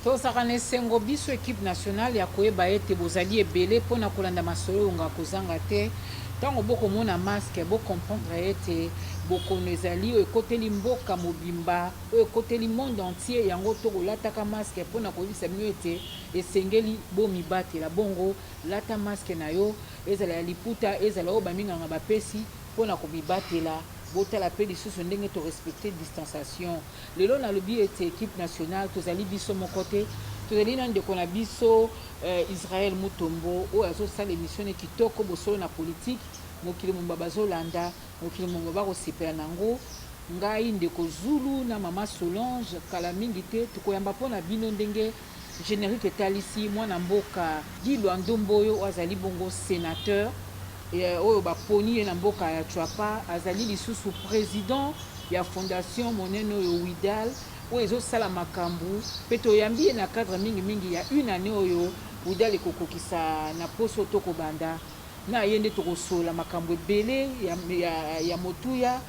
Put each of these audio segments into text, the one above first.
Tozalaka na esengo biso equipe nationale ya koyeba ete bozali ebele mpo na kolanda masolo oyo nga kozanga te. Ntango bokomona masque, bo comprendre ete bokono ezali oyo ekoteli mboka mobimba, oyo ekoteli monde entier. Yango tokolataka masque mpo na koyebisa bino ete esengeli bomibatela. Bongo Lata masque na yo, ezala ya liputa, ezala oyo ba minganga ba pesi po na ko mibatela. Bo tala pe lisusu ndenge to respecter distanciation. Lelo na lobi ete equipe nationale to zali biso moko te, to zali na ndeko na biso Israël Mutombo oyo azo sala emission ne kitoko, bosolo na politique, mokili mobimba bazo landa, mokili mobimba ba ko sepela nango. Ngai ndeko Zulu na maman Solange, kala mingi te, toko yamba po na bino ndenge Generique etalisi mwana mboka Guy Luando Mboyo oyo azali bongo senateur oyo baponi ye na mboka ya Tshuapa. Azali lisusu president ya fondation monene oyo WIDAL oyo ezosala makambo mpe toyambi ye na cadre mingi mingi ya une annee oyo WIDAL ekokokisa na poso. Tokobanda na ye nde tokosolola makambo ebele ya motuya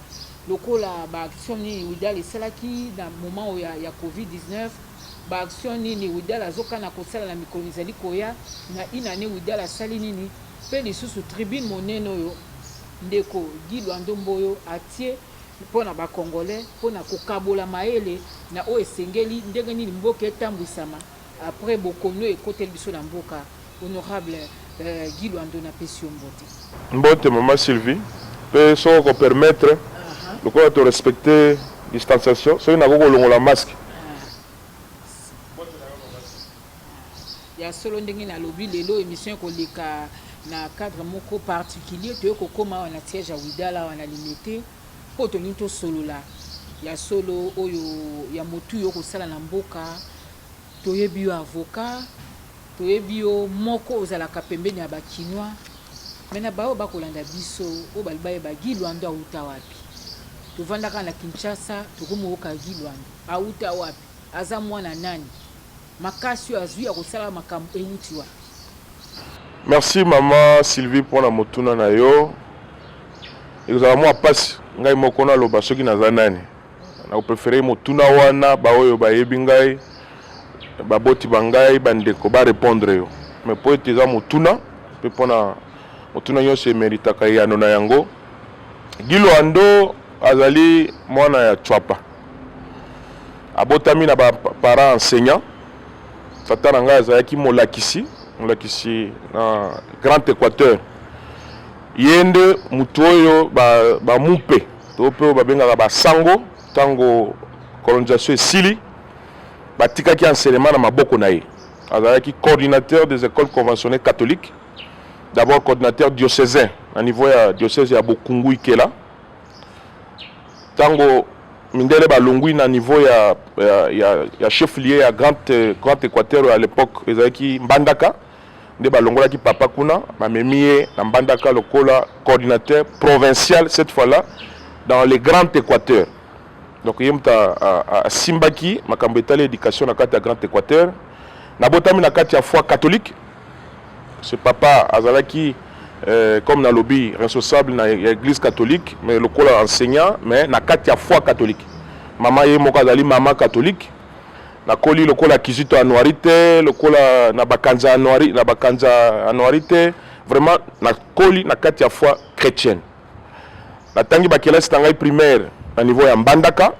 lokola ba actions nini WIDAL esalaki na moment oyo ya covid 19. Ba actions nini Widal azo kana ko sala na mikolo mizali koya? Na une annee Widal asali nini? Mpe lisusu tribune monene oyo ndeko Guy Luando Mboyo atie mpo na ba Congolais mpo na ko kabola mayele na oyo esengeli ndenge nini mboka etambwisama après bokono oyo ekoteli biso na mboka Honorable Guy Luando na pesi yo mbote. Mbote maman Sylvie pe soki oko permettre lokola to respecter distanciation soki nakoki kolongola masque. Ya solo ndenge na lobi lelo emission eko leka na cadre moko particulier toye ko koma awa na siège ya Widal awa na Limete po tolingi to solola ya solo oyo ya motuya oko sala na mboka toyebi yo avocat Toyebi yo moko ozalaka pembeni ya ba kinois mais na baoyo bakolanda biso oyo balingi bayeba Guy Luando awuta wapi? Tovanda kaka na Kinshasa tokomi koyoka Guy Luando awuta wapi? Aza mwana nani? Makasi oyo azui ya kosala makambo ewuti wapi? Merci maman Sylvie pona motuna na yo. Ekozala mwa pasi ngai moko naloba soki naza nani nakoprefere motuna wana baoyo bayebi ngai baboti ba ngai bandeko barepondre yo me mpo ete eza motuna mpe mpona motuna nyonso emeritaka eyano na yango gilo ando azali mwana ya chwapa abotami na baparent enseignant tata na ngai azalaki molakisi molakisi na grand équateur Ye nde moto oyo ba, ba mupe to mpe oyo babengaka ba sango, ntango colonisation esili, batikaki enseignement na maboko na ye. Azalaki coordinateur des ecoles conventionnees catholiques, d'abord coordinateur diocesain na niveau ya diocèse ya Bokungu Ikela. Ntango mindele balongwi na niveau ya, ya, ya, ya chef lieu ya grand, grand Equateur à l'époque ezalaki Mbandaka. nde balongolaki papa kuna bamemi ye na mbandaka lokola coordinateur provincial cette fois là dans le grand équateur donc ye moto asimbaki makambo etali éducation na kati ya grand équateur nabotami na kati ya foi catholique ce papa azalaki euh, comme nalobi responsable na ya église catholique mais lokola enseignant mais na kati ya foi catholique mama ye moko azali mama catholique Nakoli lokola Kizito Anuari te, lokola na bakanza Anuari, na bakanza Anuari te. Vraiment nakoli na kati ya foi chrétienne. Natangi bakelasi na ngai primaire na niveau ya Mbandaka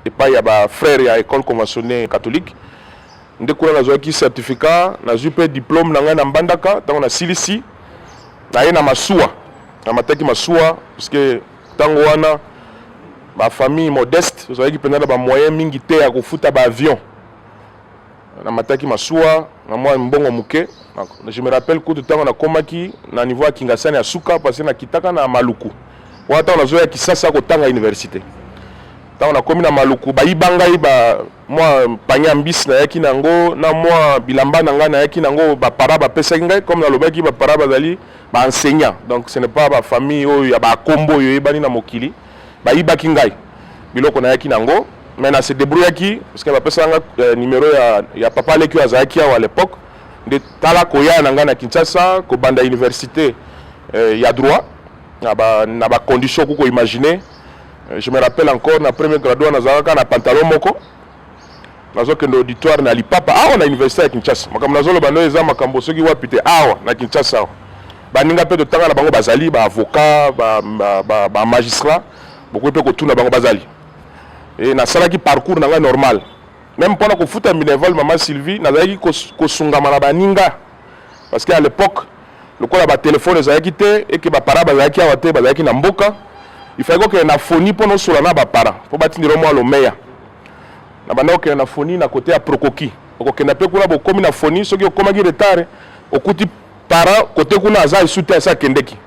epai ya ba frères ya école conventionnée catholique. Nde kuna nazwaki certificat, nazwi mpe diplôme na ngai na Mbandaka ntango nasilisi naye na masuwa namataki masuwa puisque Tango wana ba famille modeste tozalaki mpenza na ba moyen mingi te ya kofuta ba avion namataki masuwa na mwa mbongo moke je me rappelle kutu ntango nakomaki na niveau ya kingasani ya suka parce que nakitaka na maluku wana ntango nazoya kisasa kotanga université ntango nakomi na maluku bayiba ngai ba mwa panye ya mbisi nayaki na yango na mwa bilamba na ngai nayaki na yango bapara bapesaki ngai comme nalobaki bapara bazali baenseignant donc ce n'est pas bafamille oyo ya bakombo oyo eyebani na mokili bayibaki ngai biloko nayaki na yango mais na se débrouillaki parce que bapesaka ngai euh, numero ya, ya papa leki oyo azalaki awa à l'époque nde tala koya na ngai na kinshasa kobanda université euh, ya droit na bacondition ba kukoimagine Je me rappelle encore na premier graduat nazalaka na pantalon moko nazokende auditoire na lipapa awa na université ya Kinshasa. Makambo nazoloba nde eza makambo soki wapi te awa na Kinshasa awa. Baninga mpe totanga na bango bazali ba avocat ba, ba, ba, ba magistrat bokoki mpe kotuna bango bazali e, nasalaki parcours na ngai normal meme mpo na kofuta minerval mama Sylvie nazalaki kosungama na baninga parce que à l'époque lokola ba téléphone ezalaki te et que ba parents bazalaki awa te bazalaki na mboka il fallait kokende na foni mpo nosola na ba parents mpo batindela mwa lomeya na banda kokende na foni na kote ya prokoki okokenda mpe kuna bokomi na foni soki okomaki retard okuti parent kote kuna aza esu te asi akendeki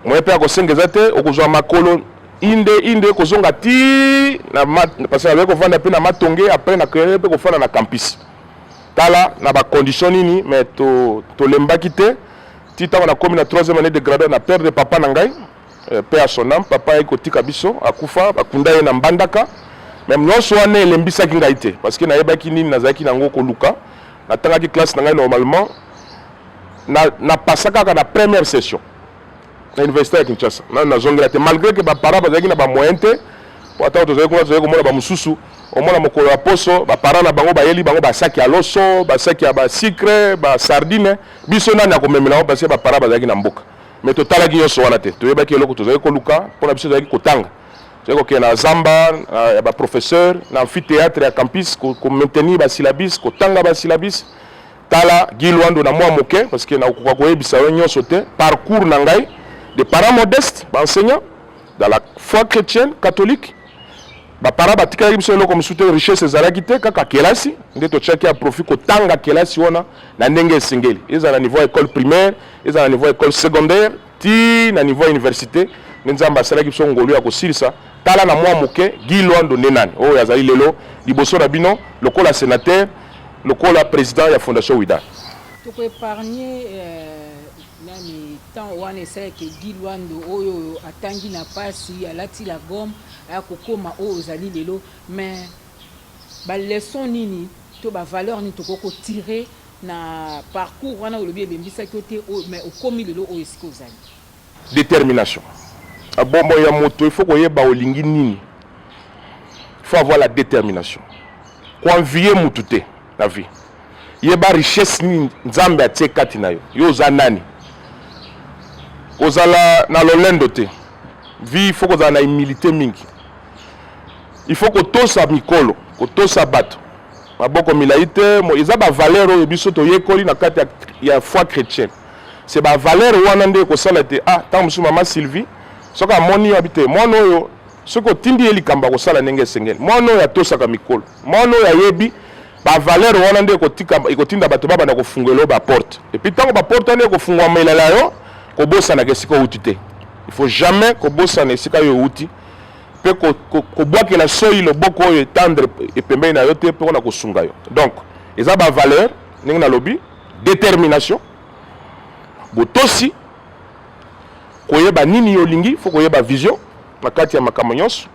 moye mpe akosenga eza te okozwa makolo inde inde kozonga ti na parce que nazali kovanda mpe na matonge après na créere mpe kofanda na campus tala na ba condition nini mais to tolembaki te ti ntango nakomi na troisième année de graduat na perdre papa na ngai euh, pe à son âme papa ayaki kotika biso akufa bakunda ye na mbandaka meme nyonso wana elembisaki ngai te parce que nayebaki nini nazalaki nango koluka natangaki classe na ngai normalement na, na pasa kaka na première session na université ya Kinshasa na nazongela te malgré que ba parents bazalaki na ba moyens te po ata tozali kuna tozali komona ba mosusu omona mokolo ya poso ba parents na bango bayeli bango ba sac ya loso ba sac ya ba sucre ba sardine biso nani akomemela yango parce que ba parents bazalaki na mboka mais totalaki nyonso wana te toyebaki eloko tozali koluka mpo na biso tozalaki kotanga tozali kokende na zamba ya ba professeur na amphithéâtre ya campus ko maintenir ba syllabus kotanga ba syllabus tala Guy Luando na mwa moke parce que nakokoka koyebisa yo nyonso te parcours na ngai de parents modestes ba enseignants dans la foi chrétienne catholique baparent batikelaki biso eloko mosusu te richesse ezalaki te kaka kelasi nde totyaki ya profit kotanga kelasi wana na ndenge esengeli ezala na niveau ya école primaire ezala na niveau ya école secondaire tii na niveau ya universite nde nzambe asalaki biso ngolu ya kosilisa tala na mwa moke guy loando nde nani oyo oh, azali lelo liboso na bino lokola senateur lokola président ya fondation wida tokoepargne euh, nani ntango wana esalaki egi lwando oyo atangi na mpasi alati la gomme aya kokoma oyo ozali lelo mais baleson nini to bavaleur nini tokoki kotire Na parcours wana olobi elembisaki yo te oyo mais okomi lelo oyo esika ozali. Determination na bomoi ya moto il faut koyeba olingi nini il faut avoir la determination ko envier mutu te na vie yeba richesse nini nzambe atie kati na yo yo oza nani kozala na lolendo te vie il faut kozala na humilité mingi il faut kotosa mikolo kotosa bato maboko milai te eza ba valeur oyo biso toyekoli na kati ya foi chrétienne c'est ba valeur wana nde ekosala te ah ntango mosusu mama sylvie soki amoni yo abite mwana oyo soki otindi ye likambo akosala ndenge esengeli mwana oyo atosaka mikolo mwana oyo ayebi bavalere wana nde ekotinda bato babanda kofungwela yo baporte epuis ntango baporte wana ekofungwamelela yo kobosanaka esika outi te il faut jamais kobosana esika yo outi mpe kobwakela ko, ko soyi loboko oyo etandre epembeni na yo te mpe wana kosunga yo donc eza bavaleur ndenge nalobi détermination botosi koyeba nini yo olingi fo koyeba vision na kati ya makambo nyonso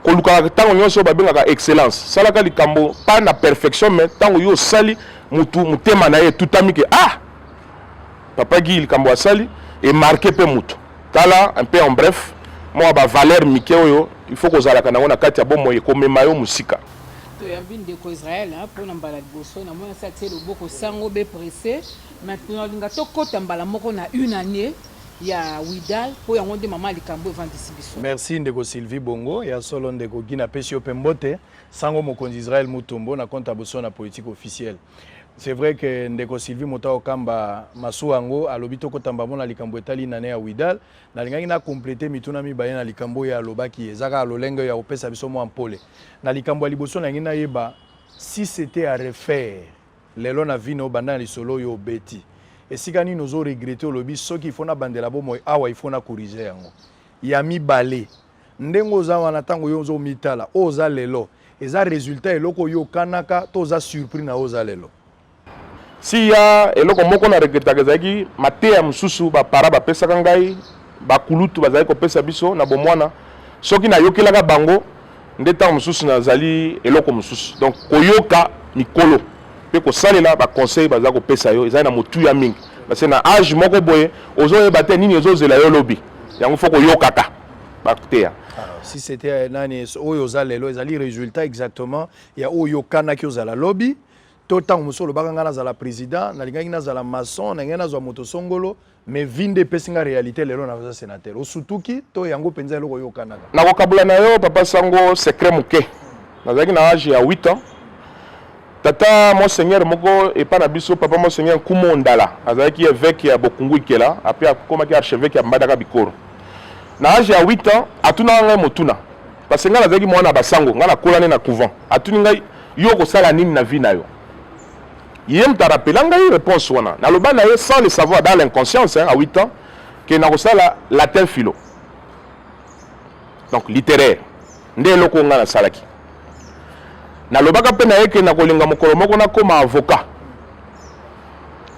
kolukaka ntango nyonso oyo babengaka excellence salaka likambo pa na perfection mai ntango yo osali motu motema na ye etutami ke ah papa gi likambo asali emarke mpe motu Tala un peu en bref mwa ba valeur mike oyo il faut kozalaka nango na kati ya bomoi ekomema yo mosika. Toyambi ndeko Israël mpo na mbala liboso na mwana sa tie loboko sango be presse maintenant linga tokota mbala moko na une année ya Widal mpo yango nde mama likambo evandisi biso. Merci ndeko Sylvie Bongo ya solo ndeko Gina pesi yo mpe mbote sango mokonzi Israël Mutombo na compte ya boso na politique officielle. C'est vrai que ndeko Sylvie Motao Kamba masuwa yango alobi tokota mbamo na likambo etali nane ya Widal. Nalingaki na complete mituna mibale na likambo oyo alobaki eza kaka lolenge ya kopesa biso mwa mpole. Na likambo ya liboso nalingi nayeba si c'était à refaire lelo na vie na yo banda na lisolo oyo obeti esika nini ozo regrete olobi soki ifo nabandela bomoi awa ifo na corrige yango ya mibale ndenge oza wana ntango yo ozo mitala oyo oza lelo eza resultat eloko oyo okanaka to oza surpris na oyo oza lelo siya eloko moko na regretaka ezalaki mateya mosusu bapara bapesaka ngai bakulutu bazalaki kopesa biso na bomwana soki nayokelaka bango nde ntango mosusu nazali eloko mosusu donc koyoka mikolo mpe kosalela baconseil baza kopesa yo ezali na motuya mingi parce na age moko boye ozoyeba te nini ezozela yo lobi yango fo koyokaka bakuteya si c'était euh, nani oyo oza lelo ezali résultat exactement ya oyo okanaki ozala lobi to ntango mosusu olobaka ngai nazala président nalingaki nazala maçon nalingaki nazwa moto songolo mais vi nde epesi ngai réalité lelo naza sénateur osutuki to yango mpenza eloko oyokanaka nakokabola na yo papa sango secret moke nazalaki na age ya 8 ans Tata Monseigneur moko epa na biso, Papa Monseigneur Nkumu Ondala, azalaki eveque ya Bokungu Ikela, apres akomaki archeveque ya Mbadaka Bikoro. Na age ya 8 ans, atunaka ngai motuna, parce que ngai nazalaki mwana ya basango, ngai nakola nde na couvent. Atuni ngai, yo okosala nini na vie na yo? Ye moto arapela ngai reponse wana, naloba na ye sans le savoir, dans l'inconscience, hein, à 8 ans, que nakosala latin philo, donc littéraire. nde eloko oyo ngai nasalaki nalobaka mpe na ye ke nakolinga mokolo moko nakoma avocat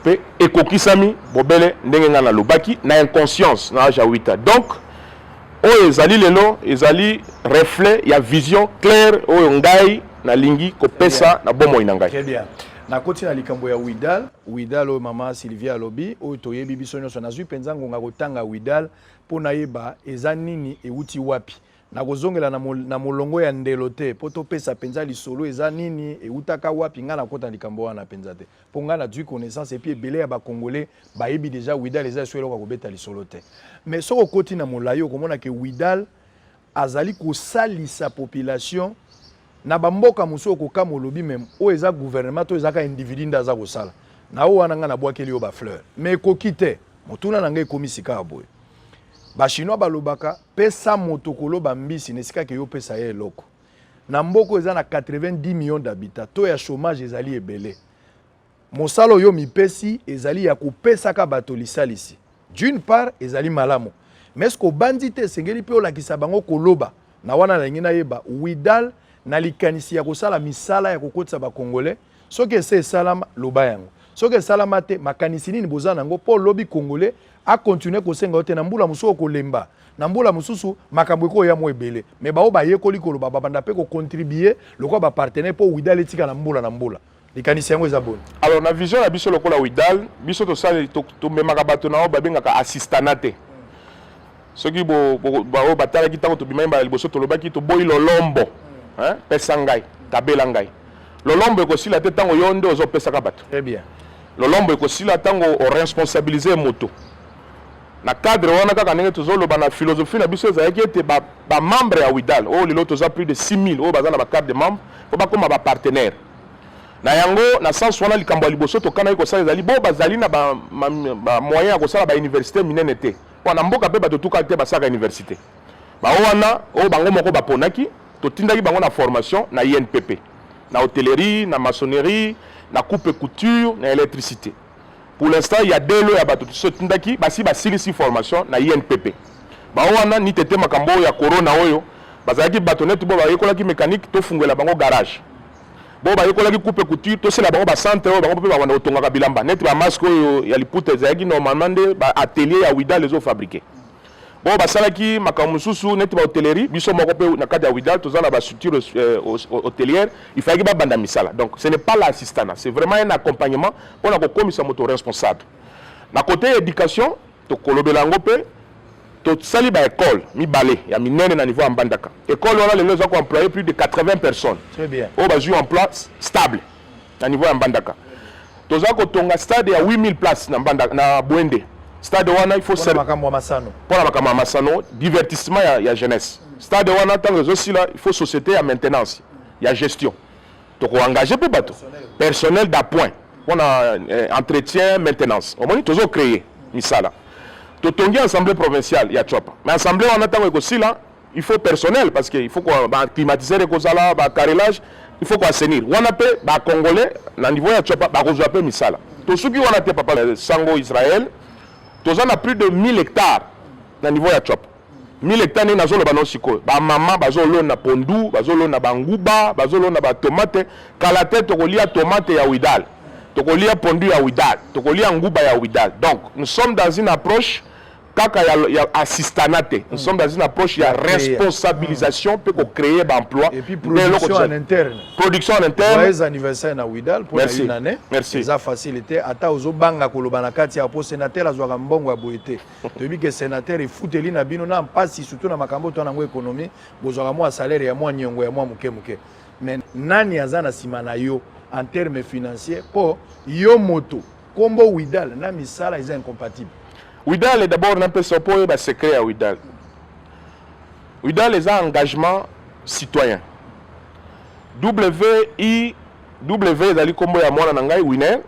mpe ekokisami bobele ndenge ngai nalobaki na inconscience na age ya 8 ans donc oyo ezali lelo ezali reflet ya vision claire oyo ngai nalingi kopesa na bomoi na ngai nakoti na likambo ya widal widal oyo mama sylvia alobi oyo toyebi biso nyonso nazwi mpenza ngonga kotanga widal mpo nayeba eza nini euti wapi nakozongela na, mol, na molongo ya ndelo te mpo topesa mpenza lisolo eza nini eutaka wapi ngai nakota likambo wana mpenza te mpo ngai nazwi connaissance epuis ebele ya bacongolais bayebi deja widal eza esu eloko ya kobeta lisolo te mais soki okoti na molai okomona ke widal azali kosalisa population na bamboka mosusu okokama olobi meme oyo eza gouvernement to ezaka individu nde aza kosala na oyo wana ngai nabwakeli yo bafleur mais ekoki te motuna na ngai ekomi sikawa boye bachinois balobaka Pesa moto koloba mbisi na esika ke yo pesa ye eloko. Na mboka oyo eza na 90 millions d'habitants, taux ya chômage ezali ebele. Mosala oyo mipesi ezali ya kopesaka bato lisalisi. D'une part ezali malamu. Mais ce obanzi te esengeli mpe olakisa bango koloba. Na wana nalingi nayeba Widal na likanisi ya kosala misala ya kokotisa ba Congolais Soki esi esalama, loba yango. Soki esalama te, makanisi nini boza nango mpo lobi Congolais akontinue kosenga yo te na mbula mosusu okolemba na mbula mosusu makambo ekoya mwa ebele me baoyo bayekoli koloba babanda mpe kocontribue lokola bapartenaire mpo widal etikala mbula na mbula likanisi yango eza boni alors na vision na biso lokola widal biso tosali tomemaka bato na oyo babengaka assistana te soki baoyo batalaki ntango tobimaki mbala liboso tolobaki toboyi lolombo pesa ngai kabela ngai lolombo ekosila te ntango yo nde ozopesaka bato lolombo ekosila ntango oresponsabilize moto na cadre wana kaka ndenge tozoloba na philosophie na biso ezalaki ete bamembre ya widal oyo lelo toza plus de 6000 oyo baza na bacarte de membre mpo bakóma bapartenaire na yango na sense wana likambo ya liboso tokanaki kosala ezali bo bazali na bamoyen ya kosala bauniversité minene te Mpo na mboka mpe bato etukaki te basalaka iniversite. Bango wana oyo bango moko baponaki, totindaki bango na formation na INPP, na hotellerie, na maçonnerie, na coupe et couture, na electricite. Pour l'instant, il y a deux lots ya bato totindaki basi basilisi formation na INPP. Bango wana ni tete makambo oyo ya corona oyo bazalaki bato neti bo bayekolaki mécanique, tofungwela bango garage. bo bayekolaki coupe couture tosela bango bacentre oyo bango mpe babanda kotongaka bilamba neti bamaske oyo ya liputa ezalaki normalement nde baatelier ya widal ezofabrike bo basalaki makambo mosusu neti bahotellerie biso moko mpe na kati ya widal toza na bastructure euh, hotelière ifalaki babanda misala donc ce n'est pas la assistana c'est vraiment un accompagnement mpo na kokomisa moto responsable na kote ya éducation tokolobela yango mpe tosali ba école mibale ya minene na niveau ya mbandaka école wana lelo eza ko employe plus de 80 personnes oyo bazwi emploi stable na niveau ya mbandaka toza kotonga stade ya 8000 place na, mbanda, na bwende stade wana il faut mpona makambo ya masano mpona makambo ya masano divertissement ya, ya jeunesse stade wana ntango ezosila il faut société ya maintenance ya gestion toko engage pe bato personnel d'appoint mpo na eh, entretien maintenance omoni tozo créer misala totongi assemblée provinciale ya copa mais assemblée wana ntango ekosila il faut personnel parce que il faut ba climatiseur ekozala ba carrelage il faut koassainir wana mpe ba congolais na niveau ya copa bakozwa mpe misala tosuki wana te papa sango israel toza na plus de 1000 hectares na niveau ya copa mille hectare nini azoloba no sikoyo bamama bazolona pondu bazolona banguba bazolona batomate kala te tokolia tomate ya widal tokolia pondu ya widal tokolia nguba ya widal donc nous sommes dans une approche kaka ya, ya assistana te nous sommes dans une approche ya responsabilisation mpe kocréer baemploi production en interne production en interne joyeux anniversaire na widal mpo na une année eza facile te ata ozobanga koloba na kati ya po sénateur azwaka mbongo ya boye te toyebi ke senateur efuteli na bino na mpasi surtout na makambo to nango ekonomi bozwaka mwa salaire ya mwa niongo ya mwa moke moke mais nani aza na nsima na yo en terme financier mpo yo moto nkombo widal na misala eza incompatible widal d'abord napesa mpo oyeba secret ya widal widal eza engagement citoyen wi w ezali nkombo ya mwana na ngai winer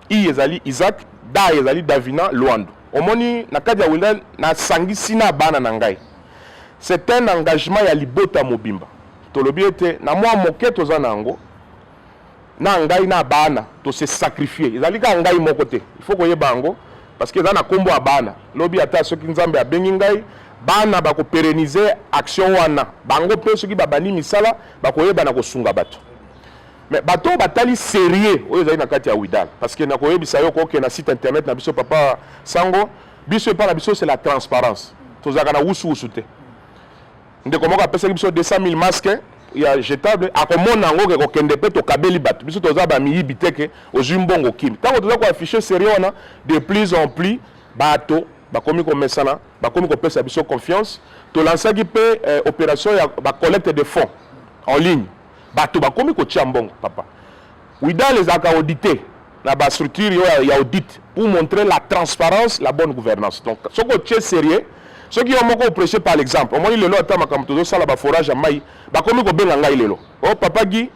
I ezali Isaac, Da ezali Davina Luandu. Omoni, na kati ya Wenda, nasangisi na bana na ngai. C'est un engagement ya libota mobimba. Tolobi ete na mwa moke toza na yango, na ngai na bana to se sacrifier. Ezali kaka ngai moko te, il faut koyeba yango parce que eza na kombo ya bana. Lobi ata soki Nzambe abengi ngai, bana bako perenniser action wana. Bango mpe soki babandi misala, bakoyeba na kosunga bato. Mais bato oyo batali serie oyo ezali na kati ya widal parce que nakoyebisa yo koke na site internet na biso papa sango biso epai na biso c'est la transparence tozalaka na wusuwusu te ndeko moko apesaki biso 200 000 masque ya jetable akomona yango ke kokende mpe tokabeli bato biso toza bamiyibi te ke ozwi mbongo kimi ntango toza koaffiche serie wana de plus en plus bato bakomi komesana bakomi kopesa biso confiance tolansaki mpe eh, opération ya bacollecte de fonds en ligne Bato bakomi kotia mbongo papa. Widal ezalaka audite na ba structure yo ya audit pour montrer la transparence, la bonne gouvernance. Donc soki otie sérieux, soki yo moko oprêche par l'exemple, omoni lelo ata makambo tozosala ba forage ya mai, bakomi kobenga ngai lelo. Oh papa Guy,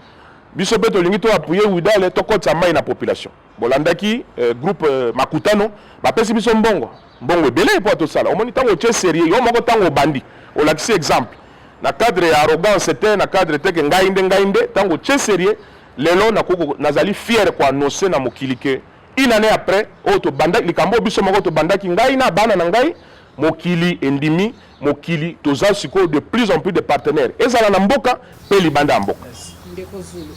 biso mpe tolingi to appuyer Widal tokotisa mai na population. bolandaki eh, groupe eh, makutano bapesi biso mbongo mbongo ebele epo atosala omoni ntango otie serieux yo moko ntango obandi olakisi exemple na cadre ya arrogance te na cadre te ke ngai nde ngai nde ntango otie serieux lelo nakoko nazali fiere koannonce na mokili ke une année après oyo tobandaki likambo biso moko tobandaki ngai na bana na ngai mokili endimi mokili toza sikoyo de plus en plus de partenaires ezala na mboka mpe libanda ya mboka ndeko zulu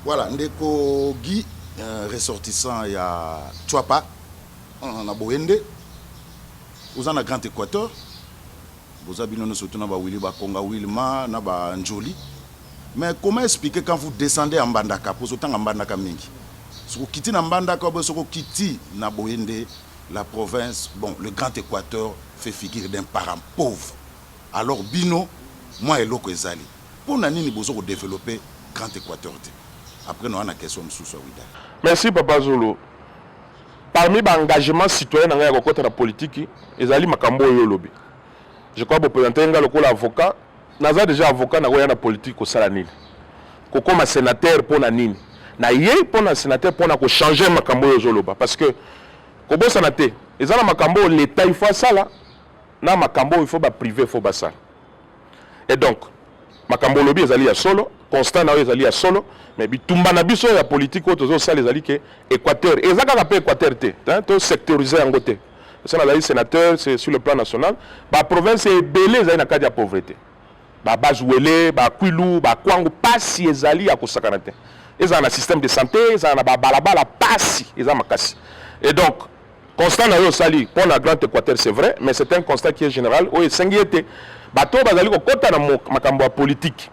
voilà ndeko guy euh, ressortissant ya chwapa euh, na boyende oza na grand équateur boza bino nyonso tuna bawili bakonga wilma na banjoli mais comment expliquer quand vous descendez en mbandaka mpo ozotanga mbandaka mingi soki okiti na mbandaka obe soki okiti na boyende la province bon le grand equateur fait figure d'un parent pauvre alors bino mua eloko ezali pona nini bozo ko developper grand equateur te après noya na question mususu ya wida. Merci papa zulu parmi ba engagement citoyen na ngai ya kokota na politiki ezali makambo oyo yo olobi je crois bo presenter ngai lokola avocat. naza deja avocat nakoya na politique kosala nini kokoma sénateur mpo na nini na ye mpo na sénateur mpo na kochanger makambo oyo ozoloba parce que kobosana te eza na makambo oyo leta il faut asala na makambo oyo il faut baprive il faut basala et donc makambo olobi ezali ya solo constat na yo ezali ya solo mais bitumba na biso ya politique oyo tozosala ezali ke équateur eza kaka mpe équateur te to secteuriser yango te esa nazali sénateur c'est sur le plan national baprovince ebele ezali na kati ya pauvreté babazuele bakwilu bakwango pasi ezali ya kosakana te ezala na système de santé ezala na babalabala pasi eza makasi et donc constat na yo osali mpo na grand équateur c'est vrai mais c'est un constat qui est général oyo esengi ete bato oyo bazali kokɔta na makambo ya politike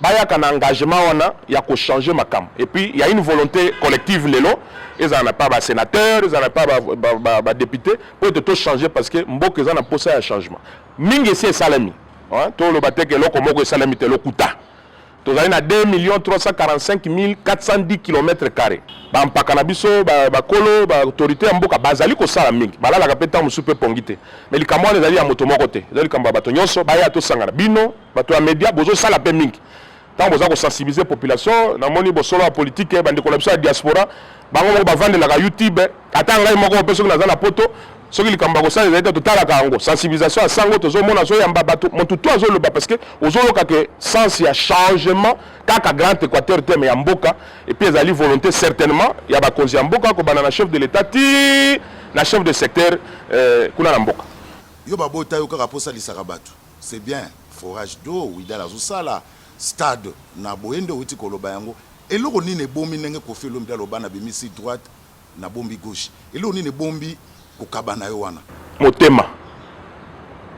bayaka na engagement wana ya ko changer makambo et puis il y a une volonté collective lelo ezala na pa ba sénateur ezala na pa ba, ba, ba, ba député mpo ete to changer parce que mboka eza na mposa ya changement mingi esi esalemi toloba te ke eloko moko esalemi te lokuta tozali na 2 million 345 410 km carré bampaka na biso bakolo baautorité ya mboka bazali kosala mingi balalaka mpe ntango mosusu mpe pongi te mai likambo wana ezali ya moto moko te ezali likambo ya bato nyonso baya tosangana bino bato ya media bozosala mpe mingi ntango boza kosensibilize population namoni bosolo ya politike bandeko na biso ya diaspora bango moko bavandelaka youtube ata ngai moko mpe soki naza na poto soki likambo ya kosala ezali te totalaka yango sensibilisation ya sango tozomona azoyamba bato motu to azoloba parce que ozoloka ke sens ya changement kaka grand équateur te me ya mboka epuis ezali volonté certainement ya bakonzi ya mboka kobanda na chef de l'état ti na chef de secteur euh, kuna na mboka yo babota yo kaka mpo osalisaka bato C'est bien forage d'eau Wydad azo sala, stade na boye nde owuti koloba yango, eloko nini ebomi ndenge Koffi Olomide aloba na bimisi droite na bombi gauche, eloko nini ebombi kokaba nayo wana? Motema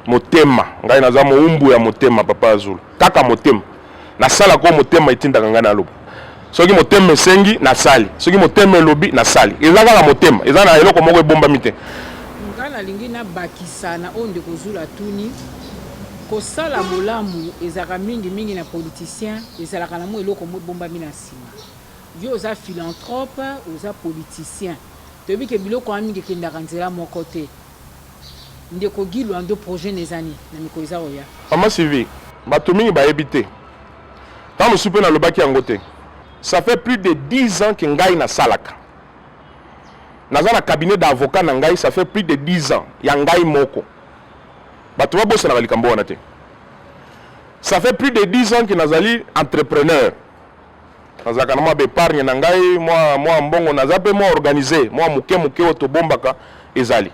motema ngai naza mowumbu ya motema papa azulu kaka motema. nasalaka oyo motema etindaka ngai naloba soki motema esengi nasali soki motema elobi nasali eza kaka motema eza na eloko moko ebombami te ngai nalingi nabakisa na oyo ndeko zula atuni kosala bolamu ezalaka mingi mingi na politicien ezalaka na mwa eloko mwa ebombami na nsima yo oza philanthrope oza politicien toyebi ke biloko wana mingi ekendaka nzela moko te Ndeko Guy Loando projet na eza nini na mikolo eza koya? Maman Sylvie, batu mingi bayebi te, tango mosusu mpe nalobaki yango te, ça fait plus de 10 ans que ngai nasalaka, naza na cabinet d'avocat na ngai, ça fait plus de 10 ans ya ngai moko, batu babosanaka likambo wana te, ça fait plus de 10 ans que nazali entrepreneur, nazalaka na mwa bepargne na ngai mwa, mwa mbongo naza mpe mwa organise mwa moke moke oyo tobombaka ezali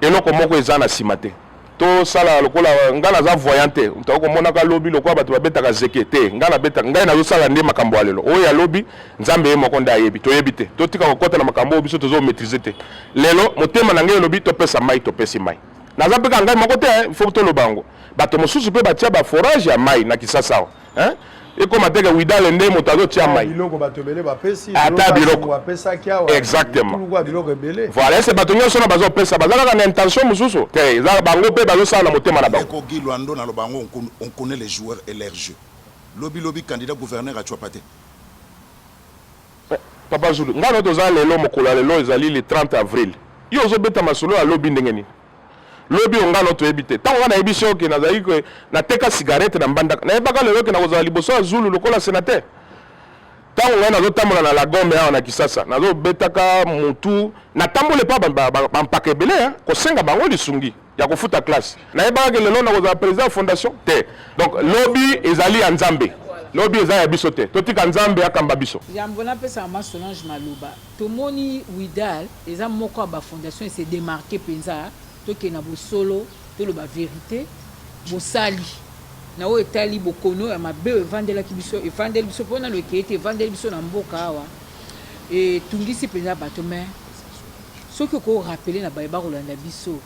eloko moko eza na nsima te tosala lokola ngai naza voyant te tokoki komonaka lobi lokola bato babetaka zeke te ngai nabetaka ngai nazosala nde makambo ya lelo oyo ya lobi nzambe ye moko nde ayebi toyebi te totika kokɔta na makambo oyo biso tozomaîtrise te lelo motema na ngai elobi topesa mai topesi mai naza mpe kaka ngai moko te fo toloba yango bato mosusu mpe batya baforage ya mai na kisasa awa hein ekoma teke widale nde moto azotia mai biloko bato ebele bapesi ata biloko apesaki awa exactement biloko biloko ebele voilà ese bato nyonso na bazopesa baza kaka na intention mosusu te eza bango mpe bazosala na motema na bango ekogi lwando na lobango on connaît les joueurs et leur jeu lobi lobi candidat gouverneur acuapa te eh, papa zulu ngai na toza lelo mokolo ya lelo ezali le 30 avril yo ozobeta masolo ya lobi ndenge nini lobi yo ngai no toyebi te ntango ngai nayebisi yo ke nazalaki ke nateka cigarette na mbandaka nayebaka lelo ke nakozala liboso ya zulu lokola senateur ntango ngai nazotambola na lagome awa na kisasa nazobetaka motu natamboli epa bampaka ebele eh, kosenga bango lisungi ya kofuta classe nayebaka ke lelo nakozala président ya fondation te donc lobi ezali ya nzambe lobi eza ya biso te totika nzambe akamba biso yambo napesaka ma solange maloba Tomoni WIDAL eza moko ya ba fondation e se demarquer penza, tokende na bosolo, toloba verite, bosali na oyo etali bokono ya mabe oyo evandelaki biso, evandeli biso po nanu ekei te, evandeli biso na mboka awa, etungisi penza bato, mais soki oko rappeler na baye bakolanda biso,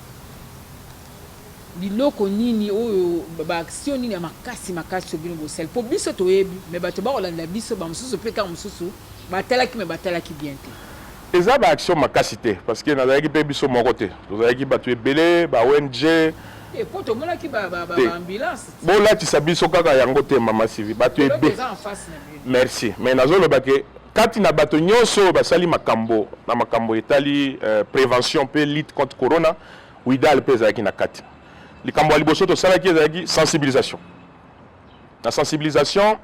Biloko nini oyo ba action nini ya makasi makasi oyo bino bosali po biso toyebi mais bato bakolanda biso ba mosusu pe tango mosusu batalaki mais batalaki bien te. Eza ba action makasi te parce que nazalaki pe biso moko te tozalaki batu ebele ba ong. Te po tomonaki ba ba ba ambulance ti. Bolatisa biso kaka yango te maman Sylvie bato ebe merci mais nazoloba ke kati na bato nionso oyo basali makambo na makambo etali prevention pe lutte contre corona Widal mpe ezalaki na kati. Likambo ya liboso tosalaki ezalaki sensibilisation. Na sensibilisation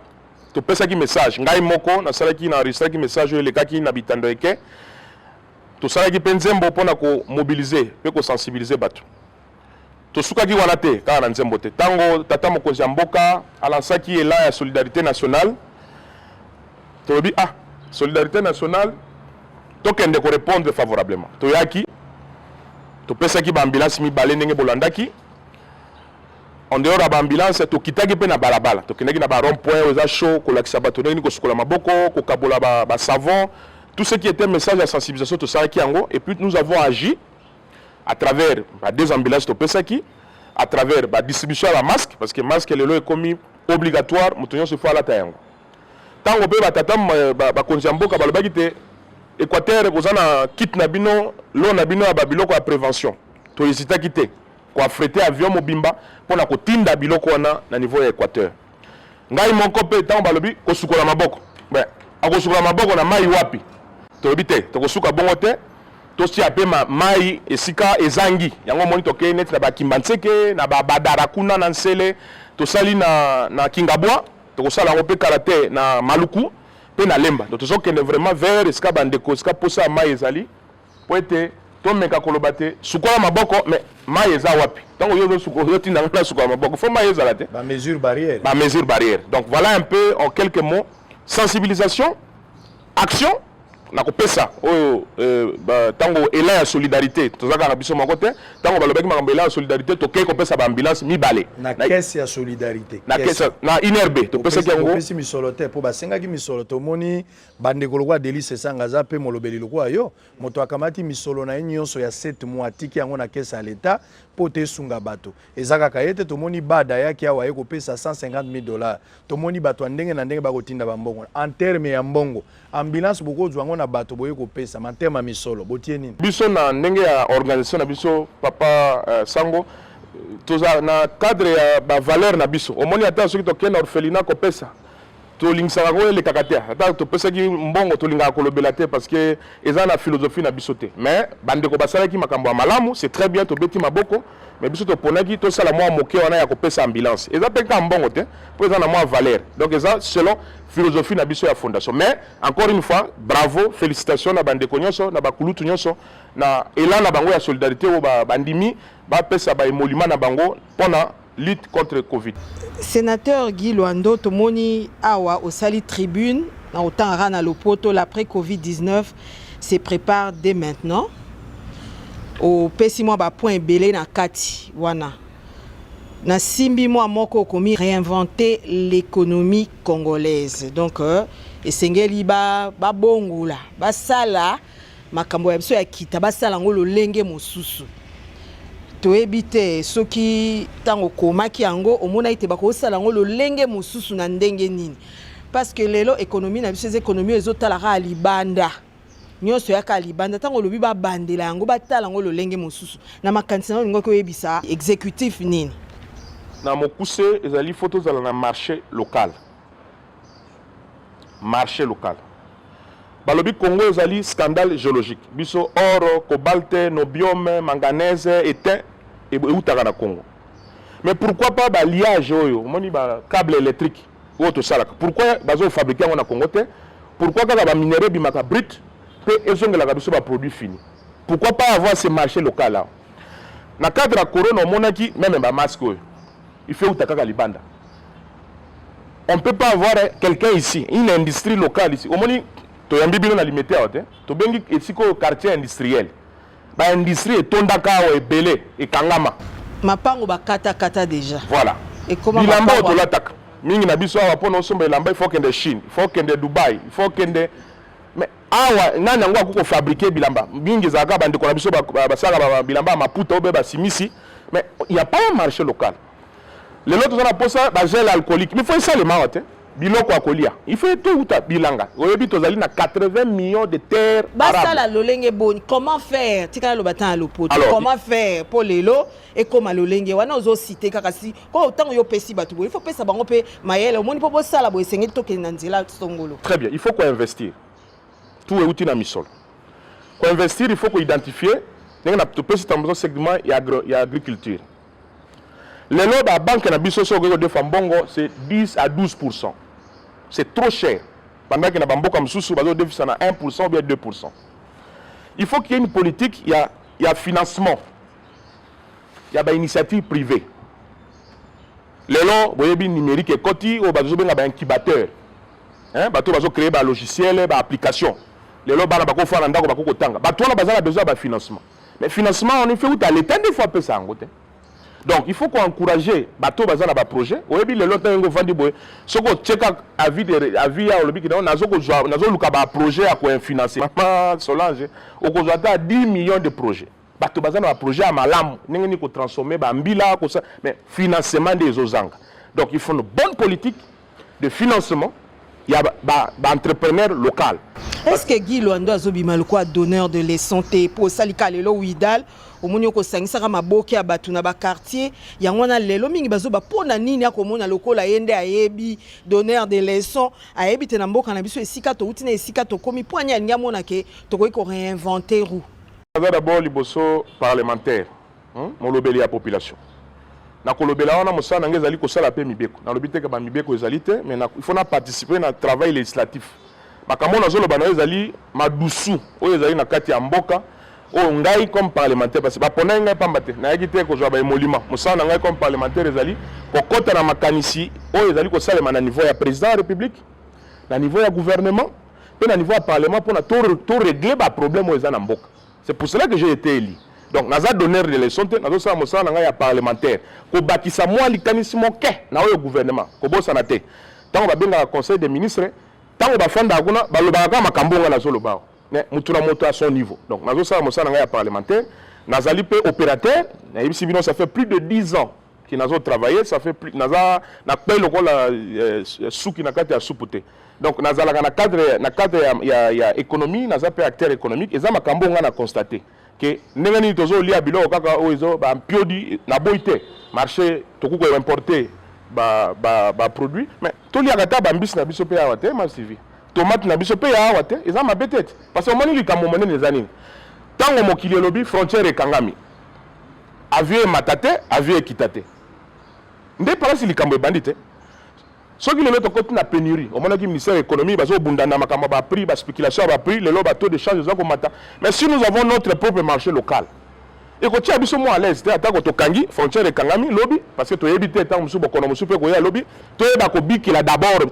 topesaki message, ngai moko nasalaki na enregistraki message oyo elekaki na bitando eke. Tosalaki mpe nzembo mpo na komobilize mpe kosensibilize bato. Tosukaki wana te, kaka na nzembo te. Ntango tata mokonzi ya mboka alansaki elan ya solidarite nationale Tolobi ah solidarite nationale tokende ko répondre favorablement. Toyaki topesaki ba ambulance mibale ndenge bolandaki en dehors ya ba ambulance tokitaki mpe na balabala tokendaki na ba rond point oyo eza chaud kolakisa bato ndenge nini kosukola maboko kokabola ba, ba savon tout ce qui était message ya sensibilisation tosalaki yango et puis nous avons agi à travers ba deux ambulances topesaki à travers ba distribution ya ba masque parce que masque lelo ekomi obligatoire moto nyonso ifo alata yango Tango pe ba tata ba konzi ya mboka balobaki te Equateur ekoza na kit na bino lo na bino ya ba biloko ya prevention to hesitaki te ko affrete avion mobimba pona kotinda biloko wana na niveau ya Equateur ngai moko pe tango balobi kosukola maboko ben akosukola maboko na mai wapi tolobi te tokosuka bongo te totia mpe mai esika ezangi yango omoni tokei neti na bakimba nseke na babadara kuna na nsele tosali na, na kingabwa Tokosala yango mpe kala te na Maluku mpe na Lemba. Donc tozokende vraiment vers esika bandeko, esika mposa ya mai ezali mpo ete tomeka koloba te sukola maboko mais mai eza wapi ntango yo ozotinda ngai nasukola maboko fo mai ezala te bamesure barrière ba mesure barrière donc voilà un peu en quelques mots sensibilisation action na kopesa oyo eh, ntango euh, ela ya solidarité toza kaka biso moko te ntango balobaki makambo ela ya solidarité tokei kopesa baambulance mibale na kese ya solidarité na kese na inerbe topesaki yango topesi misolo te mpo basengaki misolo tomoni bandeko lokola delise esanga aza mpe molobeli lokola yo moto akamati misolo na ye nyonso ya 7 mois atiki yango na kese ya leta mpo te esunga bato Eza kaka ye te, tomoni Bad ayaki awa aye kopesa 150 mille dollars. Tomoni bato ya ndenge na ndenge bakotinda bambongo. En terme ya mbongo, ambulance bokozwa yango na bato boye kopesa. Ma terme ya misolo, botie nini? Biso na ndenge ya organisation na biso, papa euh, Sango, toza na cadre ya ba valeurs na biso. Omoni ata soki tokei na orphelinat kopesa tolingisaka ko elekaka te ata topesaki mbongo tolingaka kolobela te parce que eza na philosophie na biso te mais bandeko basalaki makambo ya malamu c'est très bien tobeti maboko mais biso toponaki tosala mwa moke wana ya kopesa ambulance eza mpe kaka mbongo te mpo eza na mwa valeur donc eza selon philosophie na biso ya fondation mais encore une fois bravo félicitation na bandeko nyonso na bakulutu nyonso na elan na bango ya solidarité oyo bandimi bapesa baemolima na bango mpo na lutte contre covid senateur guy loando tomoni awa osali tribune na otangaka na lopoto l'après covid 19 se prépare dès maintenant opesi mwa bapoint ebele na kati wana nasimbi mwa moko okomi réinventer l'économie congolaise donc euh, esengeli babongola ba basala makambo ya biso ya kita basala yango lolenge mosusu toyebi te soki ntango okomaki yango omonaki te bakosala yango lolenge mosusu na ndenge nini parce que lelo ekonomi na biso eza ekonomi oyo ezotala kaka libanda nyonso yaka libanda ntango olobi babandela yango batala yango lolenge mosusu na makanisi na olingaki oyebisa exécutif nini na mokuse ezali fo tozala na marché local marche local balobi congo ezali scandale geologique biso oro cobalte nobiome manganese etin eutaka na congo mais pourquoi pas baliage oyo omoni ba cable électrique oyo tosalaka pourquoi bazofabrike yango na congo te pourquoi kaka baminere ebimaka brite mpe ezongelaka biso baproduit fini pourquoi pas avoir ce marché local awa na cadre ya corona omonaki meme bamaske oyo Il faut euta kaka libanda. On ne peut pas avoir quelqu'un ici, une industrie locale ici. Omoni toyambi bino na limete awa te. Tobengi esika oyo quartier industriel. Ba industrie etondaka awa ebele ekangama. Mapango bakata kata déjà. Voilà. Ekoma Bilamba mapango- otolataka. Mingi na biso awa mpo na osomba elamba il faut kende Chine, il faut kende Dubai, il faut kende awa nani yango akoki kofabrike bilamba mingi ezalaka bandeko na biso basalaka bilamba ya maputa obe basimisi mais ya pa ya marché local lelo toza na mposa bagel alcoolique mifo esalema awa te biloko ya kolia ifo touta bilanga oyebi tozali na 80 millions de terre basala lolenge boni comment faire tikala loba ntan ya lopoto comment faire mpo lelo ekóma lolenge wana ozosite kaka si oyo ntango yo opesi bato boye il faut opesa bango mpe mayele omoni mpo bosala boye esengeli tokende na nzela songolo très bien il faut koinvestir tout euti na misolo koinvestir il faut koidentifie ndenge na topesi tamboso segment ya, agro, ya agriculture lelo babanke na biso soki okoki kodefa mbongo c'est 10 à 12 pourcent c'est trop cher bandaki na bamboka mosusu bazodefisa na 1 pourcent ou bien 2 pourcent il faut qu'il y ait une politique ya, ya financement ya ba initiative privée lelo boyebi numérique ekoti oyo bazobenga ba incubateur hein? bato bazo créer ba logiciel ba application lelo bana bakofaa na ndako bakoki kotanga bato wana baza na besoin ya bafinancement mais financement wana ife uta leta nde fo apesa yango te donc il faut koencourage bato baza na baprojet oyebi lelo ntango yango ofandi boye soki otyeka avis ya olobi kinao nazoluka baprojet ya koinfinance mama solange okozwa ata 10 millions de projet bato baza na baprojet ya malamu ndenge nini kotransforme bambila kosa mais financement nde ezozanga donc il faut une bonne politique de financement ya baentrepreneur ba, ba local est ce que guy loando azobima lokola donneur de leçon te mpo osali ka lelo widal omoni okosangisaka maboke ya bato na bakartier yango wana lelo mingi bazoba mpo na nini akomona lokola ye nde ayebi donneur de leçon ayebi te na mboka na biso esika touti na esika tokomi mpo ani alingi amona ke tokoki koreinvente roue Aza d'abord liboso parlementaire hmm? molobeli ya population nakolobela wana mosala na ngai ezali kosala mpe mibeko nalobi te ba mibeko ezali te mais il faut na participer na travail législatif makambo nazoloba na yo ezali madusu oyo ezali na kati ya mboka oyo ngai comme parlementaire parce baponaki ngai mpamba te nayaki te kozwa baemolima mosala na ngai comme parlementaire ezali kokɔta na makanisi oyo ezali kosalema na niveau ya président ya république na niveau ya gouvernement Pe na niveau ya parlement pona to to régler ba problème oyo eza na mboka. C'est pour cela que j'ai été élu. Donc naza donneur de leçon te, nazo sala mosala na ngai ya parlementaire. Kobakisa mwa likanisi moke na oyo gouvernement. Kobosana te. Tango babengaka conseil des ministres, tango bafandaka kuna balobaka kaka makambo ngai nazoloba awa. Mais motu na moto à son niveau. Donc nazosala mosala na ngai ya parlementaire. Nazali pe opérateur, nayebisi bino ça fait plus de 10 ans ki nazo travailler ça fait plus naza na pe lokola euh, suki na kati ya supu te donc nazalaka na cadre na cadre ya, ya, ya économie naza pe acteur économique eza makambo nga na constate ke ndenge nini tozolia biloko kaka oyo ezo bampiodi naboyi te marché tokoki koimporte baproduit ba, ba mais toliaka ata bambisi na biso mpe awa te masivi tomate na biso mpe ya awa te eza mabe te te parce que omoni likambo monene eza nini ntango mokili elobi frontière ekangami Avion emata te, avion ekita te. Nde palasi likambo ebandi te. Soki lelo tokoti na penurie, omonaki ministère ya economie bazo bunda na makambo ba prix, ba speculation ya ba prix, lelo ba taux de change eza komata. Mais si nous avons notre propre marché local, ekotia biso mwa à l'aise te atako tokangi frontière ekangami lobi parce que toyebi te ntango mosusu bokono mosusu mpe koya lobi toyeba kobikela d'abord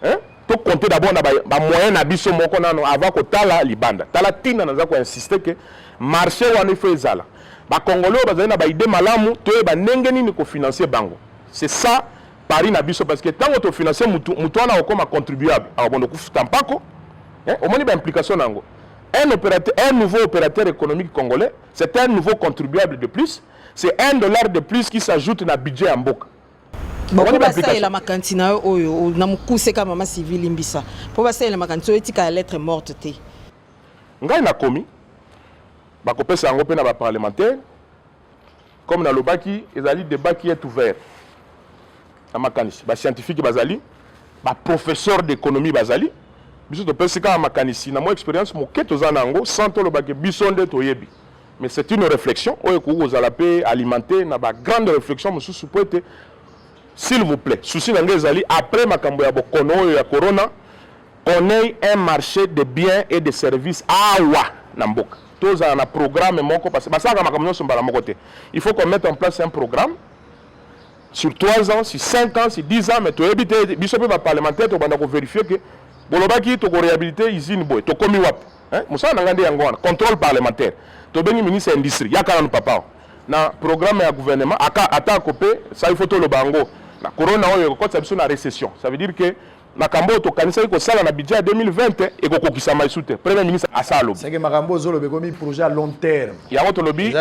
hein? to compter d'abord na ba moyen na biso moko nano avant kotala libanda tala tina naza ko insister que marché wana ifo ezala bakongole oyo bazali na baide malamu toyeba ndenge nini kofinanse bango c'est ça pari na biso parce que ntango tofinanse mutu mutu wana akokoma contribuable akobondo kofuta mpako eh, omoni baimplication na yango un, opérateur, un nouveau opérateur économique congolais c'est un nouveau contribuable de plus c'est un dollar de plus qui s'ajoute na budget ya mboka bango basalela makanisi na yo oyo na mokuse kaka mama sylvie limbisa mpo basalela makanisi oyo etika ya lettre morte te ngai nakomi bakopesa yango mpe na baparlementaire comme nalobaki ezali debat qui est ouvert na makanisi bascientifique bazali baprofesseur d'économie bazali biso topesi kaka makanisi na mwa expérience moke toza na yango sans tolobaki biso nde toyebi mais c'est une réflexion oyo ekoki kozala mpe alimente na ba grande réflexion mosusu mpo ete s'il vous plaît souci na ngai ezali après makambo ya bokono oyo ya corona qu'on ait un marché de biens et de services awa na mboka tozala na programme moko parce que basalaka makambo nyonso mbala moko te il faut qu'on mette en place un programme sur 3 ans sur 5 ans sur 10 ans mais toyebi te biso mpe baparlementaire tokobanda kovérifie ke bolobaki tokoréhabilite usine boye tokomi wapi eh, mosala na ngai nde yango wana contrôle parlementaire tobengi ministre ya industrie yaka nanu papa na programme ya gouvernement aka atako mpe sa il faut toloba yango na corona oyo ekokotisa biso na récession ça veut dire que makambo oyo tokanisaki kosala na budget ya 2020 ekokokisama esu te premier ministre asa alobi seke makambo ozoloba ekomi projet ya long terme yango tolobi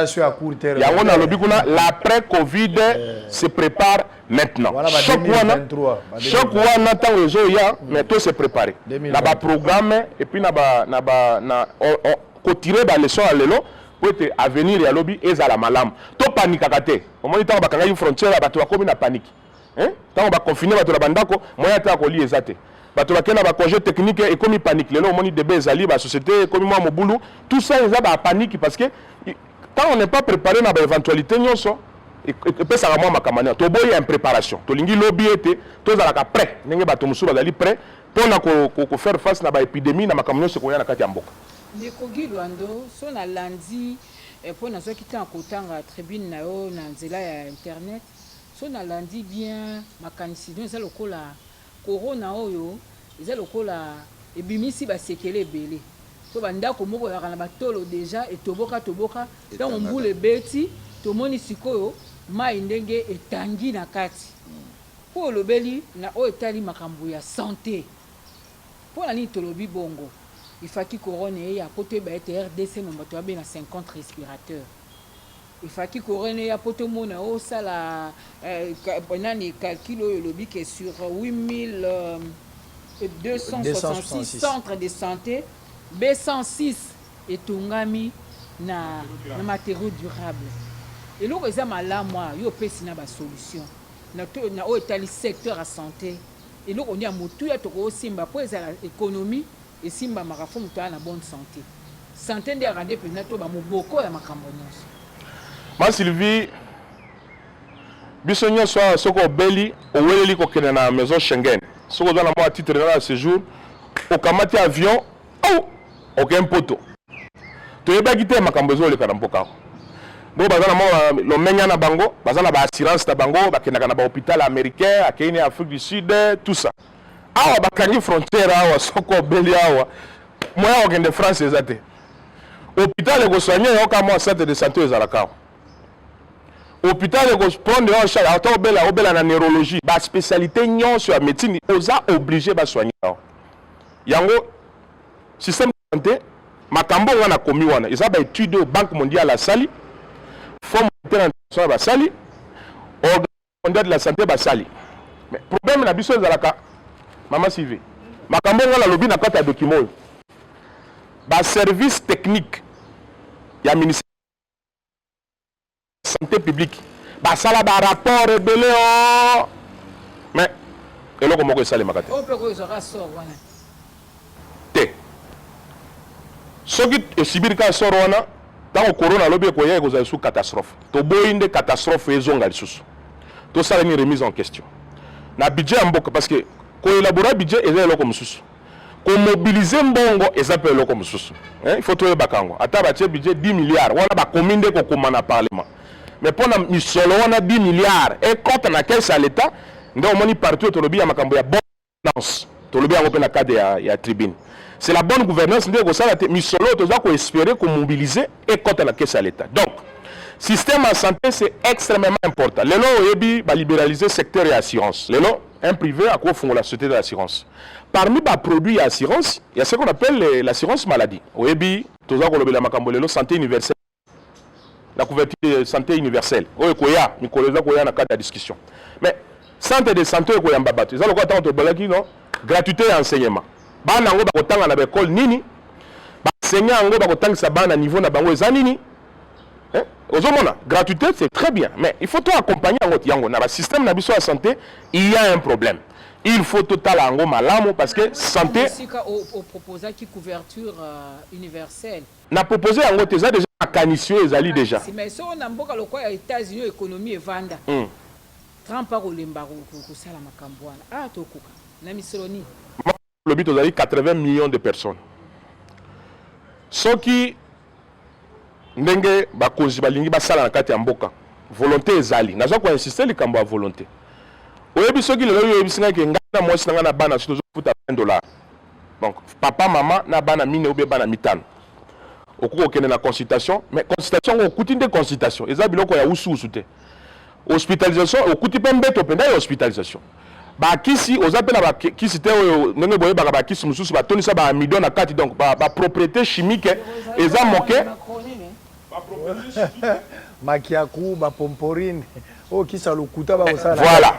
yango nalobi kuna l'après covid eh. se prépare maintenant choc wana choc wana ntango ezoya mais to se préparer na baprogramme epuis na ba na ba na kotire baleson ya lelo mpo ete avenir ya lobi ezala malamu topanikaka te omoni ntango bakangaki frontière ya bato bakomi na paniki ntango baconfine bato na bandako moyen ata ya kolia eza te bato bakei na bacongé technique ekomi paniki lelo omoni debe ezali basociété ekomi mwa mobulu tout ça eza bapaniki parce que Quand on n'est pas prepare na ba eventualite nyonso epesaka mwa makamania, toboyi impreparation, tolingi lobi ete tozalaka pret ndenge bato mosusu bazali pret mpo na ko faire face na ba epidemie na makambo nyonso ekoya na kati ya mboka. Ndeko Guy Lwando, soki nalandi mpo nazwaki temps ya kotanga tribune na yo na nzela ya internet, soki nalandi bien makanisi na yo eza lokola Corona oyo eza lokola ebimisi ba sekele ebele po ba ndako moko ezalaka na ba tolo deja etoboka toboka tango mbula ebeti tomoni sikoyo mayi ndenge etangi na kati po olobeli na oyo etali makambo ya sante pona nini tolobi bongo ifaki corona eya po toyeba ete rdc mombato abela 50 respirateur Il faki coraine eya po tomona yo osala euh, nani calcul oyo olobi ke sur 8266 centre de santé b 106 etongami na, na matériaux durable eloko eza malamu awa yo opesi na basolution na, na oyo etali secteur ya santé eloko nde ya motuya tokosimba mpo ezala ekonomi Esimbamaka faut moto aya na bonne sante. Sante nde erade penza toba moboko ya makambo nionso. Ma Sylvie biso nionso awa soki obeli oweleli kokende na maison Schengen soki oza na mua titre nana ya sejour okamati avion ou oke mpoto toyebaki te makambo ezoleka na mboka awa bo baza na mua lomenya na bango baza na ba assurance na bango bakendaka na ba hopital americain akeyi ne Afrique du Sud tout ça awa bakangi frontière awa soko obeli awa moyen ya kokende france eza te hôpital ekosoigne yo kaka mwa centre de santé ezalaka awa hôpital ekoprendre yo en charge ata obela obela na neurologie baspécialité nyonso ya médecine oza oblige basoigne yo yango système de santé makambo oyo ngai nakomi wana eza baétude oyo banque mondiale asali fonds monétaire international basali Ondat la sante basali mais problème na biso ezalaka mama CV makambo nga nalobi na kati ya document oyo ba service technique ya ministère santé publique basala ba rapport ebele o oh. mais eloko moko esalemaka te Te. Soki e subir kaka sort wana, tango corona alobi ekoya ekozala lisusu catastrophe. Toboyi nde catastrophe ezonga lisusu. Tosala nini remise en question na budget ya mboka parce que ko elaborer budget eza eloko mosusu, ko mobiliser mbongo eza mpe eloko mosusu hein, il faut toyebaka yango. Ata batie budget 10 milliards wana bakomi nde kokoma na parlement mais mpo na misolo wana 10 milliards ekota na caisse ya l'etat nde omoni partout tolobi ya makambo ya gouvernance tolobi yango mpe na cadre ya, ya tribune c'est la bonne gouvernance nde ekosala te misolo oyo toza koespere komobilize ekɔta na kese ya leta donc système ya santé c'est extrêmement important lelo oyebi baliberalize secteur ya assurance lelo un privé akofungola société de l'assurance parmi baproduit ya assurance ya ce qu'on appelle l'assurance maladie oyebi toza kolobela makambo lelo santé universelle la couverture ya santé universelle oyo ekoya mikolo eza koya na kati ya discussion mais centre de santé oyo ekoyamba bato eza lokola ntango tobalaki no gratuité ya enseignement bana yango bakotanga na baekole nini baenseigne yango bakotangisa bana niveau na bango eza nini eh? ozomona gratuité c'est très bien mais il faut to accompagner yango yango na basystème na biso ya santé il y a un problème il faut totala yango malamu parce que santé sika oproposaki couverture euh, universelle Na proposer yango te eza dejà makanisi oyo ezali dejà. Makanisi mais soki na mboka lokola ya Etats Unis oyo economie evanda Trump ako lemba ko sala makambu wana awa to koka na misolo nini? Maman olobi tozali 80 millions de personnes soki ndenge ba konzi ba lingi ba sala na kati ya mboka volonte ezali naza ko insister likambo ya volonte oyebi soki lelo yo oyebisi ngai ke ngai na muasi na ngai na bana soki tozo futa 20 dollars donc papa mama na bana mine obe bana mitano okoki kokende na consultation mais consultation yango okuti nde consultation eza biloko ya usuusu te hospitalisation okuti mpe mbeto mpenza ya hospitalisation bakisi oza mpe na bakisi te oyo ndenge boyebaka bakisi mosusu batondisa baamidon na kati donc bapropriété ba chimique eza moke Makiaku, ba pomporine, oyo kisi ya lokuta ba kosala. Voilà.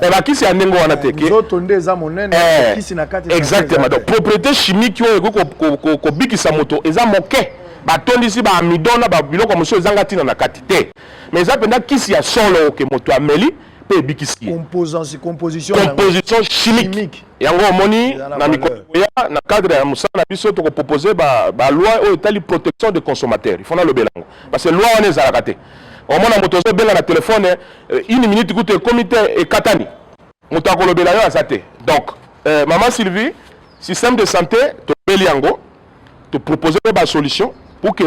Eh, ba kisi ya ndenge wana te eh, ke. Nzoto nde eza monene, eh, kisi na kati. Exactement. Donc propriété chimique oyo ekoki kobikisa moto eza moke. batondisi ba amidon na babiloko mosusu ezanga ntina na kati te mais eza mpenza kisi ya solo oke moto ameli mpe ebikisi ye composition chimique yango omoni na mikolo ekoya na cadre ya mosala na biso tokopropose baloi oyo etali protection de consommateur ifo nalobela yango parce que loi wana ezalaka te omona moto ozobenga na telefone eh, une minute kutu ekomi te ekatani moto akolobela yo aza te donc euh, mama sylvie système de santé tobeli yango topropose mpe basolution pour que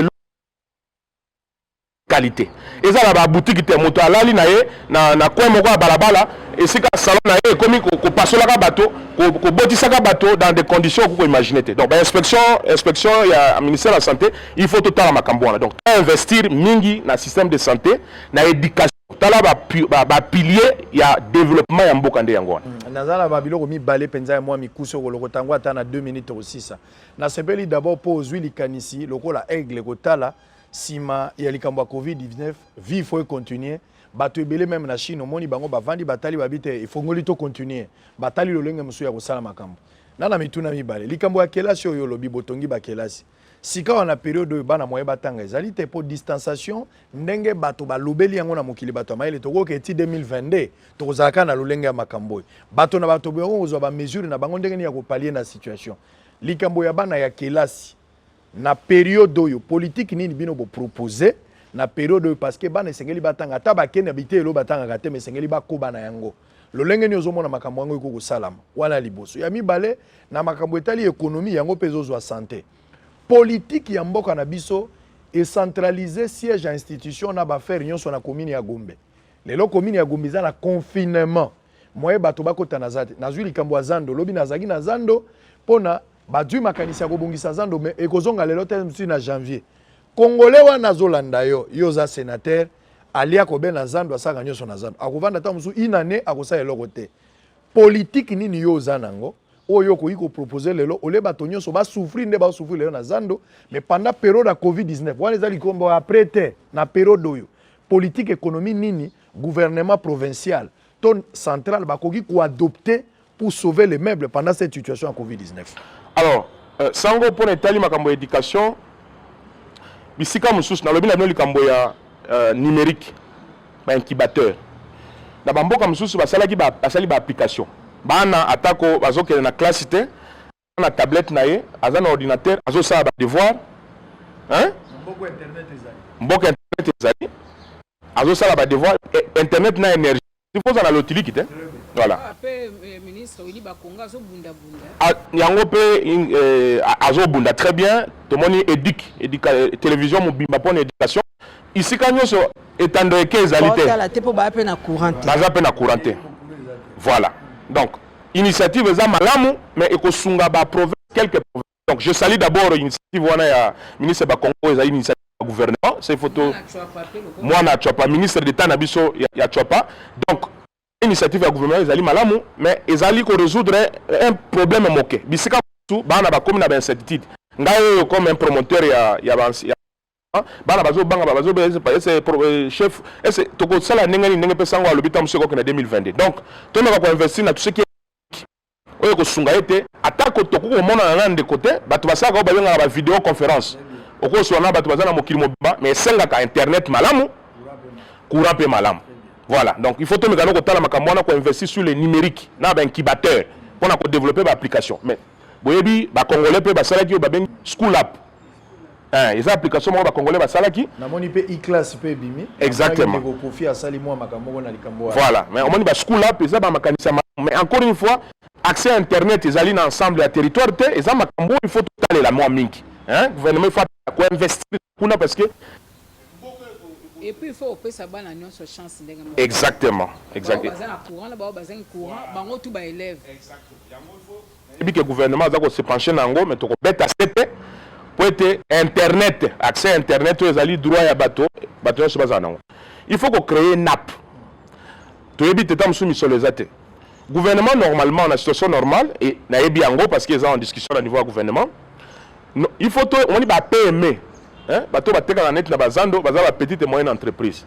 qualite eza na ba boutique te moto alali na ye na, na coin moko ya balabala esika salon na ye ekomi kopasolaka bato kobotisaka bato dans des conditions okoki koimagine te donc bainspection inspection ya ministère ya santé il faut totala makambo wana donc toinvestir mingi na système de santé na éducation tala bapilier ba, ba ya développement ya mboka nde yango wana mm, naza na babiloko mibale mpenza ya mwa mikuse okolokota yango ata na 2 minute okosisa nasepeli d'abord mpo ozwi likanisi lokola aigle kotala sima ya likambo ya covid-19 vie faut econtinue bato ebele meme na chine omoni bango bavandi batali babi te efongoli to continue batali lolenge mosusu ya kosala makambo na na mituna mibale likambo ya kelasi oyo olobi botongi bakelasi sikawa na periode oyo bana moye batanga ezali te mpo distanciation ndenge bato balobeli yango na mokili bato ya mayele tokoki eti 2022 tokozalaka na lolenge ya makambo oyo bato na bato boyango kozwa bamesure na bango ndenge nini ya kopalie na situation likambo ya bana ya kelasi na periode oyo politique nini bino bo proposer na periode oyo parce que bana esengeli batanga ata bakende na biteyelo batangaka te mais esengeli bakoba na yango lolenge nini ozomona makambo yango ekoki kosalama wana liboso ya mibale na makambo etali ekonomi yango mpe ezozwa sante politiki ya mboka na biso ecentralise siège ya institution na baaffaire nyonso na komini ya gombe lelo komini ya gombe eza na confinement moye bato bakota na za te nazwi likambo ya zando lobi nazalaki na zando mpo na Bazui makanisi ya kobongisa zando mais ekozonga lelo te msi na janvier. Congolais wana azolanda yo, yo oza senateur, alia kobe na zando asaka nyonso na zando. Akovanda ta mosusu une année akosala eloko te. Politique nini yo oza nango? oyo okoki kopropose lelo ole bato nyonso basouffrir nde basouffrir lelo na zando mais pendant periode ya covid-19 wana eza likombo après te na periode oyo politique économie nini gouvernement provincial to central bakoki koadopte pour sauver les meubles pendant cette situation ya Covid-19 Alors, euh, sango pona etali makambo ya education bisika mosusu nalobi na bino likambo ya euh, numérique ba incubateur na bamboka mosusu basalaki basali ba application bana atako bazokende na classe te na tablette na ye aza na ordinateur azosala ba devoir hein mboka internet ezali mboka internet ezali azosala ba devoir eh, internet na energie sifoza na lotiliki te voilà ah, eh, ah, yango mpe eh, azobunda très bien tomoni éduque télévision mobimba mpo na éducation isika nyonso etando eke ezali te baza mpe na courant te voilà donc Initiative eza malamu mais ekosunga ba province quelques provinces. Donc je salue d'abord initiative wana ya ministre ba Congo eza initiative ya gouvernement. C'est photo mwana chwapa ministre d'etat na biso ya, ya chwapa. Donc initiative ya gouvernement ezali malamu mais ezali ko résoudre un problème moke. Bisika tout bana ba komi na ba incertitude. Ngai comme un promoteur ya ya, ya Ah, bana bazobanga eh, chef ese tokosala ndenge nini ndenge mpe sango alobi ntango mosusu ekoki na 2022 donc tomeka koinvestir na tuseki oyo ekosunga ye te atako tokoki komonana na ndeko te bato basalaka oyo babengaka ba video conférence okoswana na bato baza na mokili mobimba mais esengaka internet malamu courant mpe malamu voilà donc il faut tomeka no kotala makambo wana koinvestir sur le numérique na baincubateur mpo na kodeveloppe baapplication mais boyebi bacongolais mpe basalaki oyo babengi school app Eh, eza application moko bacongolais basalaki namoni mpe iclasse mpe ebimi exactement kofi asali mwa makambo moko na likambo voilà mais omoni baschool app eza bamakanisi ya mais encore une fois accès à internet ezali na ensemble ya territoire te eza makambo il faut totalela mwa mingi hein? gouvernement il faut koinvestir kuna parce que et puis il faut opesa bana nyonso chance ndenge moko exactement exactement baza na courant na bango bazangi courant bango tout ba élèves exactement yango il faut Nayebi que gouvernement aza ko se pencher na yango mais toko beta sete po ete internet accès internet oyo ezali droit ya bato bato nyonso bazala nango il faut ko créer nap toyebi te ta mosusu misolo eza te gouvernement normalement na situation normale et nayebi yango parce que eza en discussion na niveau ya gouvernement no, il faut to omoni ba PME hein bato batekaka neti na bazando baza ba petite et moyenne entreprise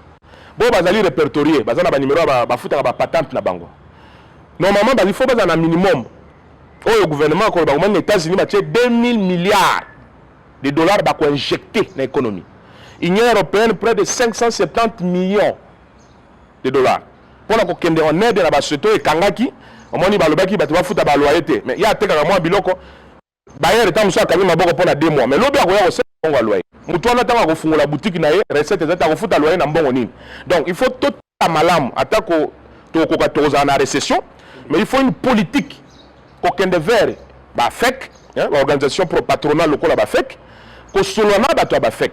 bo bazali repertorier baza na ba numero ya bafutaka ba patente na bango Normalement bali faut bazala na minimum oyo gouvernement akolo bakomani na États-Unis batie 2000 milliards de dollars bako injecter na économie. Union européenne près de 570 millions de dollars mpo na kokende en aide na basoto ekangaki omoni balobaki bato bafuta baloyer te mais ye atekaka mwa biloko bayere ntango mosusu akangi maboko mpo na de mois mais lobi akoya kosala mbongo ya loyer moto wana ntango akofungola butiki na ye recette eza te akofuta loyer na mbongo nini donc il faut totala malamu atako tokokoka tokozala na recession mais il faut une politique kokende vers bafek baorganisation pro patronal lokola bafek kosolola na bato ya bafek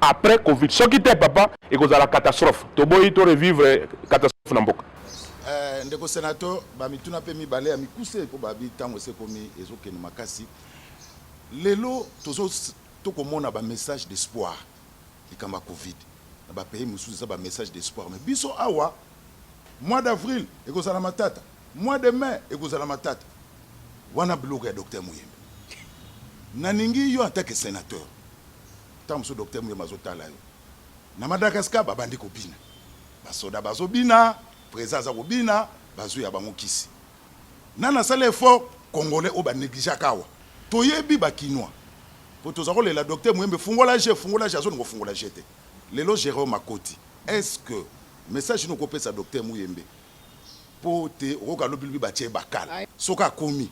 après covid soki te papa ekozala catastrophe toboyi to revivre catastrophe na mboka eh, ndeko senateur bamituna mpe mibale ya mikuse mpo babi ntango esekomi ezokende makasi lelo tozo tokomona bamessage d'espoir likambo ya covid na bapays mosusu eza bamessage d'espoir mais biso awa mois d'avril ekozala matata mois de mai ekozala matata wana biloko ya docteur moyembe nalingi yo en tant que sénateur Tango mosusu Docteur Muyembe azo tala yo. Na Madagascar ba bandi ko bina. Ba soda bazo bina, President aza ko bina, ba zui ya bango kisi. Nani asali effort? Congolais oyo ba negligeaka awa. To yebi ba kinois. Po toza ko lela Docteur Muyembe fungola jeux, fungola jeux, azo linga ko fungola jeux te. Lelo Jerome akoti. Est ce que message nini oko pesa Docteur Muyembe? Po te oko ka lobi lobi ba tie ye bakal. Soki akomi,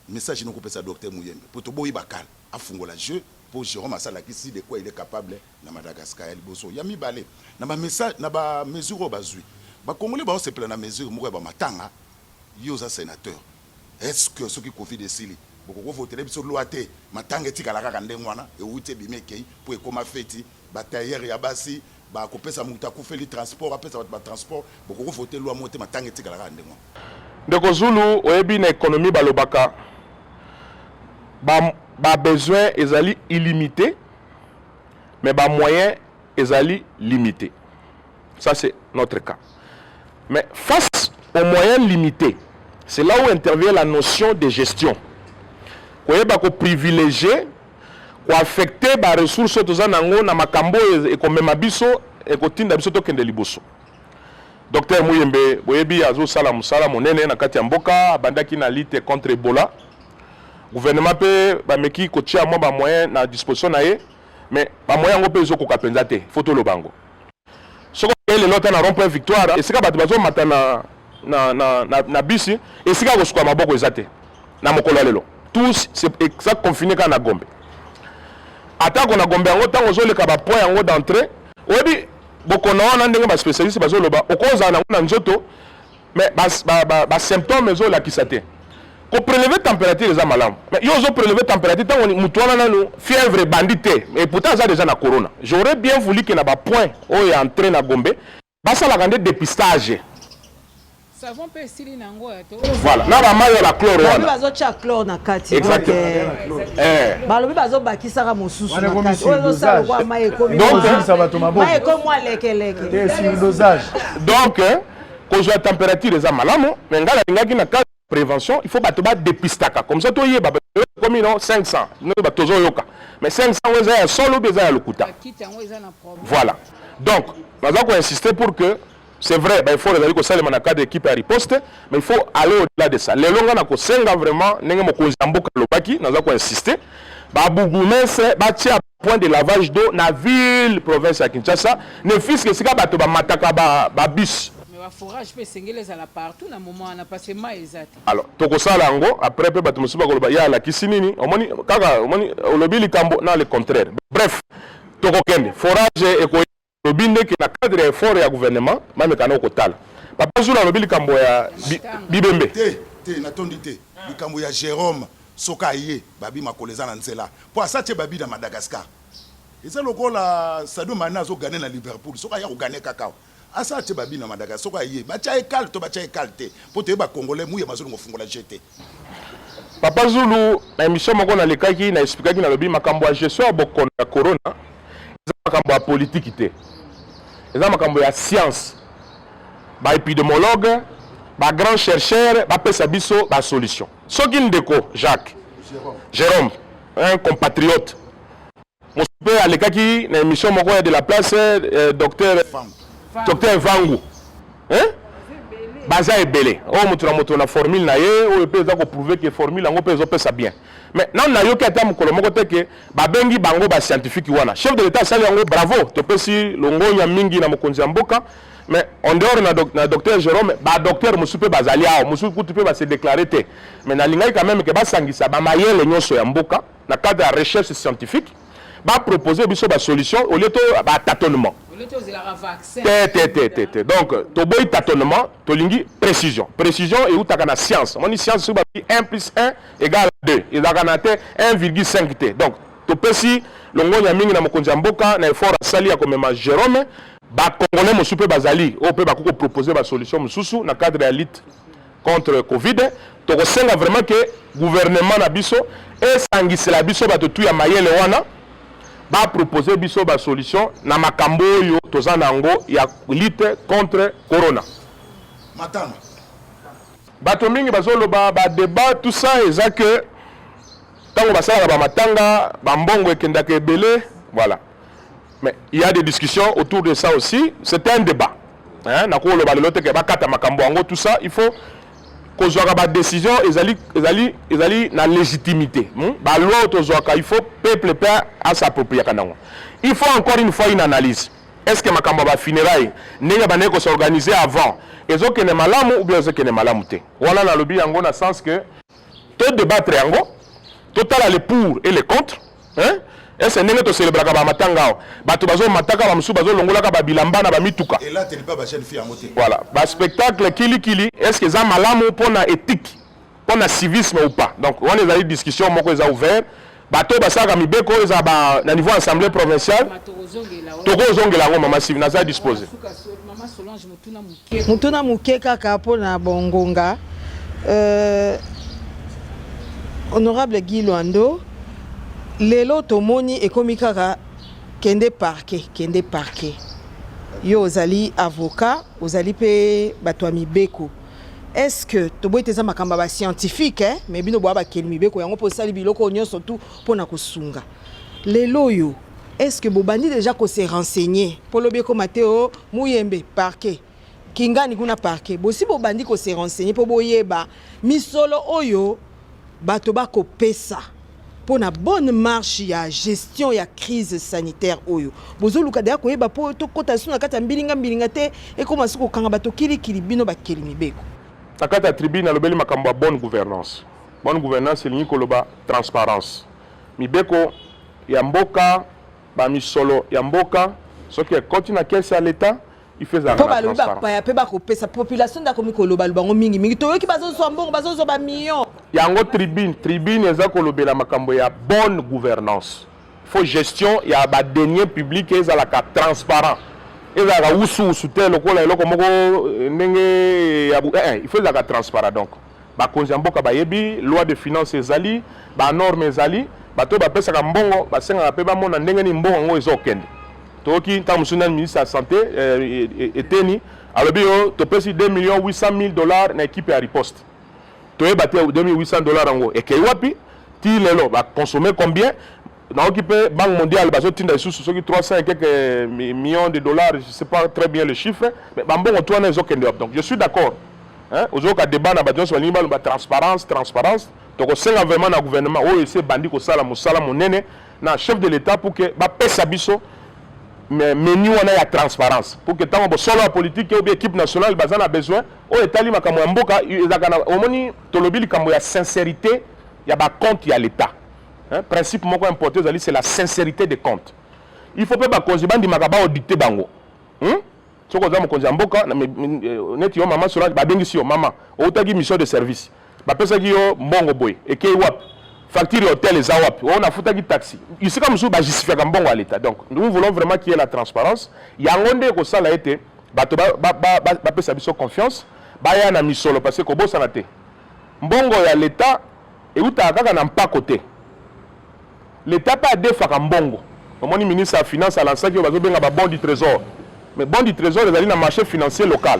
message nini oko pesa Docteur Muyembe? Po to boyi bakal. Afungola jeux po Jerome asi alakisi de quoi il est capable na Madagascar ya liboso. Ya mibale, na ba message na ba mesures oyo bazui, ba congolais bazo sepela na mesure moko ya ba matanga. Yo oza senateur, est ce que soki covid esili bokoki ko votele biso loi te matanga etikala kaka ndenge wana ewuti ebimi ekeyi po ekoma feti? Ba tailleurs ya basi, Ba kopesa mutu akufeli transport apesa batu ba transport bokoko vote loi moko te matanga etikala kaka ndenge wana. Ndeko Zulu oyebi na economie balobaka ba ba besoin ezali illimite mais ba moyen ezali limite ça c'est notre cas mais face au moyen limite c'est là où intervient la notion de gestion koyeba ko privilegier koaffecte ba ressources oyo toza nango na makambo oyo ekomema biso ekotinda biso tokende liboso. Docteur Muyembe boyebi azosala mosala monene na kati ya mboka, abandaki na lutte contre Ebola. Gouvernement mpe bameki kotia mwa ba moyens na disposition na ye, mais ba moyens yango mpe ezokoka mpenza te, faut toloba yango. soki okei lelo ata na rond point victoire esika bato bazomata na, na, na, na, na bisi esika kosuka maboko eza te na mokolo ya lelo tous eza confine kaka na gombe atako na gombe yango ntango ozoleka bapoint yango d'entrée oyebi bokono wana ndenge baspecialiste bazoloba okozala nango na nzoto mais ba, ba, ba, ba symptome ezolakisa te ko prelever température eza malamu mais yo ozo prelever température ntango motu wana nanu fièvre ebandi te et pourtant aza déjà na corona j'aurais bien voulu que na ba point oyo ya entrée na gombe basalaka nde dépistage savon mpe esili na yango voilà na bamayo na chlore wana bazotya chlore na kati eh. balobi bazobakisaka mosusu na kati oyo ezosala lokwa mai ekomi mai ekomi alekeleke donc eh, kozwa temperature eza malamu mais ngai nalingaki na cadre prévention il faut bato badepistaka comme ça toyeba komi no 500 no bato tozoyoka mais 500 oyo eza ya solo obi eza ya lokuta voilà donc naza koinsiste pour que c'est vrai baeffort ezali kosalema na cadre équipe ya riposte mais il faut aller au-delà de ça lelo ngai nakosenga vraiment ndenge mokonzi ya mboka alobaki naza koinsiste babourgmestre batia Point de lavage d'eau na ville province ya Kinshasa, ne fût-ce que esika bato bamataka ba bus. Mais ba forages mpe esengeli ezala partout na moment wana parce que mayi eza te. Alors tokosala yango après mpe bato mosusu bakoloba ye alakisi nini? Omoni kaka, omoni olobi likambo na le contraire. Bref, tokokende forage ekoya. Alobi nde ke na cadre ya effort ya gouvernement bameka nao kotala. Papa Zulu alobi likambo ya bibembe. Te te natondi te likambo ya Jerome soki aye babi makolo eza na nzela po asi atie babi na Madagascar eza lokola Sadio Mane azo gane na Liverpool soki aya kogane kaka awa asi atie babi na Madagascar soki aye batia ye kale to batia ye kale te po toyeba congolais muye bazolongo fungola je te Papa Zulu, na emission moko na lekaki na expliquaki na lobi makambo ya gestion ya bokono ya corona eza makambo ya politique te. Eza makambo ya science. Ba epidemiologues, ba grands chercheurs ba pesa biso ba solutions. Soki ndeko Jacques Jérôme, un compatriote Mosupe alekaki na emission moko ya de la place eh, docteur docteur Vangu hein? baza ebele oyo moto na moto na formule na ye oyo mpe eza koprouve ke formule yango mpe ezopesa bien mais nanu nayoki ata mokolo moko te ke babengi bango bascientifique wana chef de l'etat asali yango bravo topesi longonya mingi na mokonzi ya mboka mais en dehors na, doc, na docteur Jérôme ba docteur mosusu mpe bazali awa mosusu kutu mpe base déclare te mais nalingaki quand même ke basangisa bamayele nyonso ya mboka na cadre ya recherche scientifique ba proposer biso ba solution au lieu to ba tâtonnement te te te te te donc toboyi tâtonnement tolingi précision précision eutaka na science moni science soki babi 1 plus 1 égale 2 ezalaka na te 1,5 te donc topesi longonya mingi na mokonzi ya mboka na effort asali ya komema Jerome bakongole mosusu mpe bazali oyo mpe bakoki kopropose basolution mosusu na cadre ya lite contre covid tokosenga vraiment que gouvernement na biso esangisela biso bato tu ya mayele wana bapropose biso basolution na makambo oyo toza na yango ya lutte contre corona matanga bato mingi bazoloba badebat tout ça eza ke ntango basalaka bamatanga bambongo ekendaka ebele voilà Mais il y a des discussions autour de ça aussi, c'est un débat. Hein, na ko loba lelo te ke bakata makambo yango tout ça, il faut kozwaka ba décision ezali ezali ezali na légitimité. Hmm? Ba loi tozwaka il faut peuple pe à s'approprier kanango. Il faut encore une fois une analyse. Est-ce que makambo ba funérailles ndenge ba ko s'organiser avant ezokende malamu ou bien ezokende malamu te? Wana nalobi yango na sens que To debattre yango, totala le pour et le contre. Hein? Ese ndenge to celebraka ba matanga awa. Bato bazo mataka ba musu bazo longolaka ba bilamba na ba mituka. Et là teli pas ba jeune fille yango te. Voilà, ba spectacle kili kili, est-ce que eza malamu pona ethique, pona civisme ou pas? Donc wana ezali discussion moko eza ouvert. bato oyo basalaka mibeko oyo eza ba na niveau assemblée provinciale tokozongela yango mama sivi naza dispose motuna moke kaka mpo na bongonga euh, honorable guy lwando lelo tomoni ekomi kaka kende parke kende parke yo ozali avocat ozali mpe bato ya mibeko est ce que toboyi te eza makambo ya bascientifique eh? mais bino boya bakeli mibeko yango mpo osali biloko oyo nyonso tu mpo na kosunga lelo oyo est ce que bobandi déjà kose renseigner mpo lobi ekoma te o oh, muyembe parquet kingani kuna parquet bosi bobandi kose renseigner mpo boyeba misolo oyo Bato ba kopesa mpo na bonne marche ya gestion ya crise sanitaire oyo bozoluka deya koyeba mpo tokota lisusu na kati ya mbilinga mbilinga te ekoma su kokanga bato kilikili bino bakeli mibeko na kati ya tribune alobeli makambo ya bonne gouvernance bonne gouvernance elingi koloba transparence mibeko ya mboka bamisolo ya mboka soki ekoti na kese ya leta mpo balobi bapaya mpe bakopesa population nde akomi kolobaloba yango mingimingi toyoki bazozwa mbongo bazozwa bamillion yango tribune tribune eza kolobela makambo ya bonne gouvernance fo gestion ya badenie publique ezalaka transparent ezalaka wusuwusu te lokola eloko moko eh, ndenge ya eh, eh, il faut ezalaka transparent donc Bakonzi ya mboka bayebi, loi de finance ezali, ba norme ezali, bato oyo bapesaka mbongo basengaka mpe bamona ndenge nini mbongo yango ezokende. Toyoki ntango mosusu nani ministre ya sante eh, e, e, eteni alobi yo topesi 2 million 800 mille dollars na ekipe ya riposte. Toyeba te 2800 dollars yango ekei wapi ti lelo bakonsome combien naoki pe banque mondiale bazotinda lisusu soki 300 et quelques millions de dollars je sais pas très bien le chiffre mais bambongo tu wana ezokende wapi donc je suis d'accord hein? ozoyoka débat na bato nyonso balingi baloba transparence transparence tokosenga vraiment na gouvernement oyo esi ebandi kosala mosala monene na chef de l'état pour que bapesa biso menu wana ya transparence pour que ntango bosolo ya politike obi équipe nationale baza na besoin oyo etali makambo ya mboka ezalaka na omoni tolobi likambo ya sincérité ya bacompte ya l'état Hein, principe moko important ezali c'est la sincérité des comptes. Il faut pe ba konzi bandi makaba auditer bango. Hein? Soko za mokonzi ya mboka euh, neti yo maman Solange ba bengi si yo maman, outaki mission de service. Ba pesa ki yo mbongo boy, ekei wap. Facture hotel eza wap. On a futa ki taxi. Ici comme sou ba justifier ka mbongo à l'état. Donc nous voulons vraiment qu'il y ait la transparence. Yango nde ko sala ete bato ba ba ba, ba, ba pesa biso confiance, baya na misolo parce que kobosana te. Mbongo ya l'état Ewutaka kaka na mpako te. L'etat pe adefaka mbongo. Omoni ministre ya finance a lansaki oyo bazo benga ba bons du tresor. Mais bons du tresor ezali na marche financier local.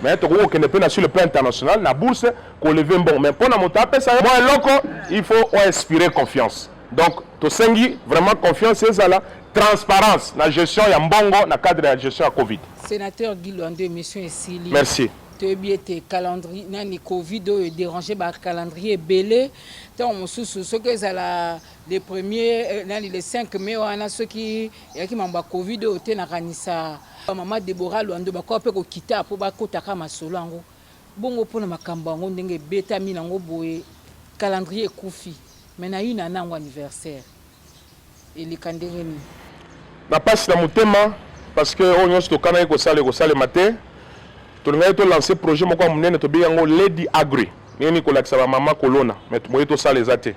Mais tokoki kokende pe na sur le plan international na bourse ko lever mbongo. Mais pona moto apesa yo mwa eloko il faut o inspirer confiance. Donc tosengi vraiment confiance ezala, transparence na gestion ya mbongo na cadre ya gestion ya covid. Senateur Guy Luando emission esili. Merci. Toyebi ete calendrier nani Covid oyo e deranger ba calendrier ebele. Ntango mosusu soki ezala le premier euh, nani le 5 mai wana soki eyaki mambo ya Covid oyo te, nakanisa mama Deborah Lwando bakoka mpe kokita mpo bakotaka masolo yango. Bongo mpo na makambo yango ndenge ebetami nango boye, calendrier ekufi mais na yuna nango anniversaire. eleka ndenge nini? Na pasi na motema parce que oyo nyonso tokanaki kosala ekosalema te. Tolingaki to lancer projet moko ya monene tobengi yango Lady Agri. Ndenge nini kolakisa ba mama kolona mais moye tosala eza te.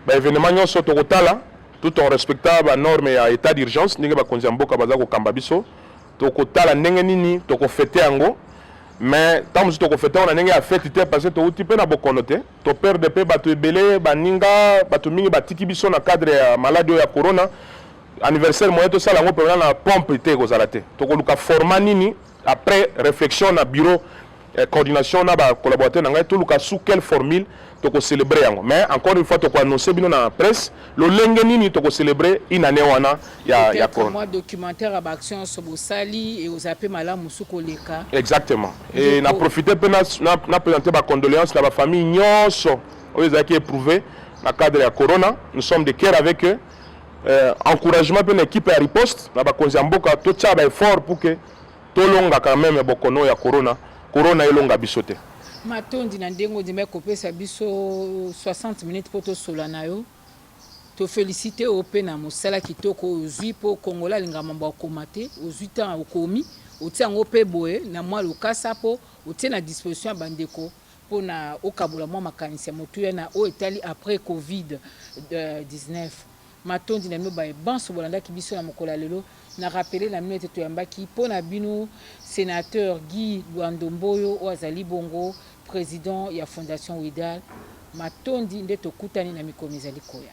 Ba evenements nyonso tokotala tout en respectant ba normes ya etat d'urgence ndenge bakonzi ya mboka baza kokamba biso. Tokotala ndenge nini tokofete yango mais ntango mosusu tokofete yango na ndenge ya feti te parce que towuti mpe na bokono te. To perdre pe bato ebele, baninga, bato mingi batiki biso na cadre ya maladi oyo ya corona. Anniversaire moyen tosala yango pemena na pompe te ekozala te. Tokoluka format nini après reflexion na bureau eh, coordination na ba collaborateurs na ngai toluka sous quelle formule toko celebrer yango. Mais encore une fois toko annoncer bino na presse Lolenge nini toko celebrer une année wana ya ya corona? Moi documentaire ya ba action so bosali et ozape malamu musu koleka. Exactement. Et na profiter pe na na présenter ba condoléances na ba familles nyonso oyo ezalaki éprouvé na cadre ya corona. Nous sommes de cœur avec eux. Euh, encouragement pe na équipe ya riposte na bakonzi ya mboka totia ba effort pour que Tolonga quand meme bokono oyo ya corona, corona elonga biso te. Matondi na ndenge ondimaki kopesa biso 60 minutes mpo tosola na yo. To felicite yo mpe na mosala kitoko oyo ozwi mpo Congolais alingaka mambo ya kokoma te. Ozwi ntango okomi, otie yango mpe boye na mwa lokasa mpo otie na disposition ya bandeko mpo na okabola mwa makanisi ya motuya na oyo etali après Covid 19. Matondi na bino baye banso bolandaki biso na mokolo ya lelo. Na rappeler na bino ete toyambaki mpo na bino Senateur Guy Luando Mboyo oyo azali bongo President ya Fondation WIDAL. Matondi nde tokutani na mikolo mizali koya.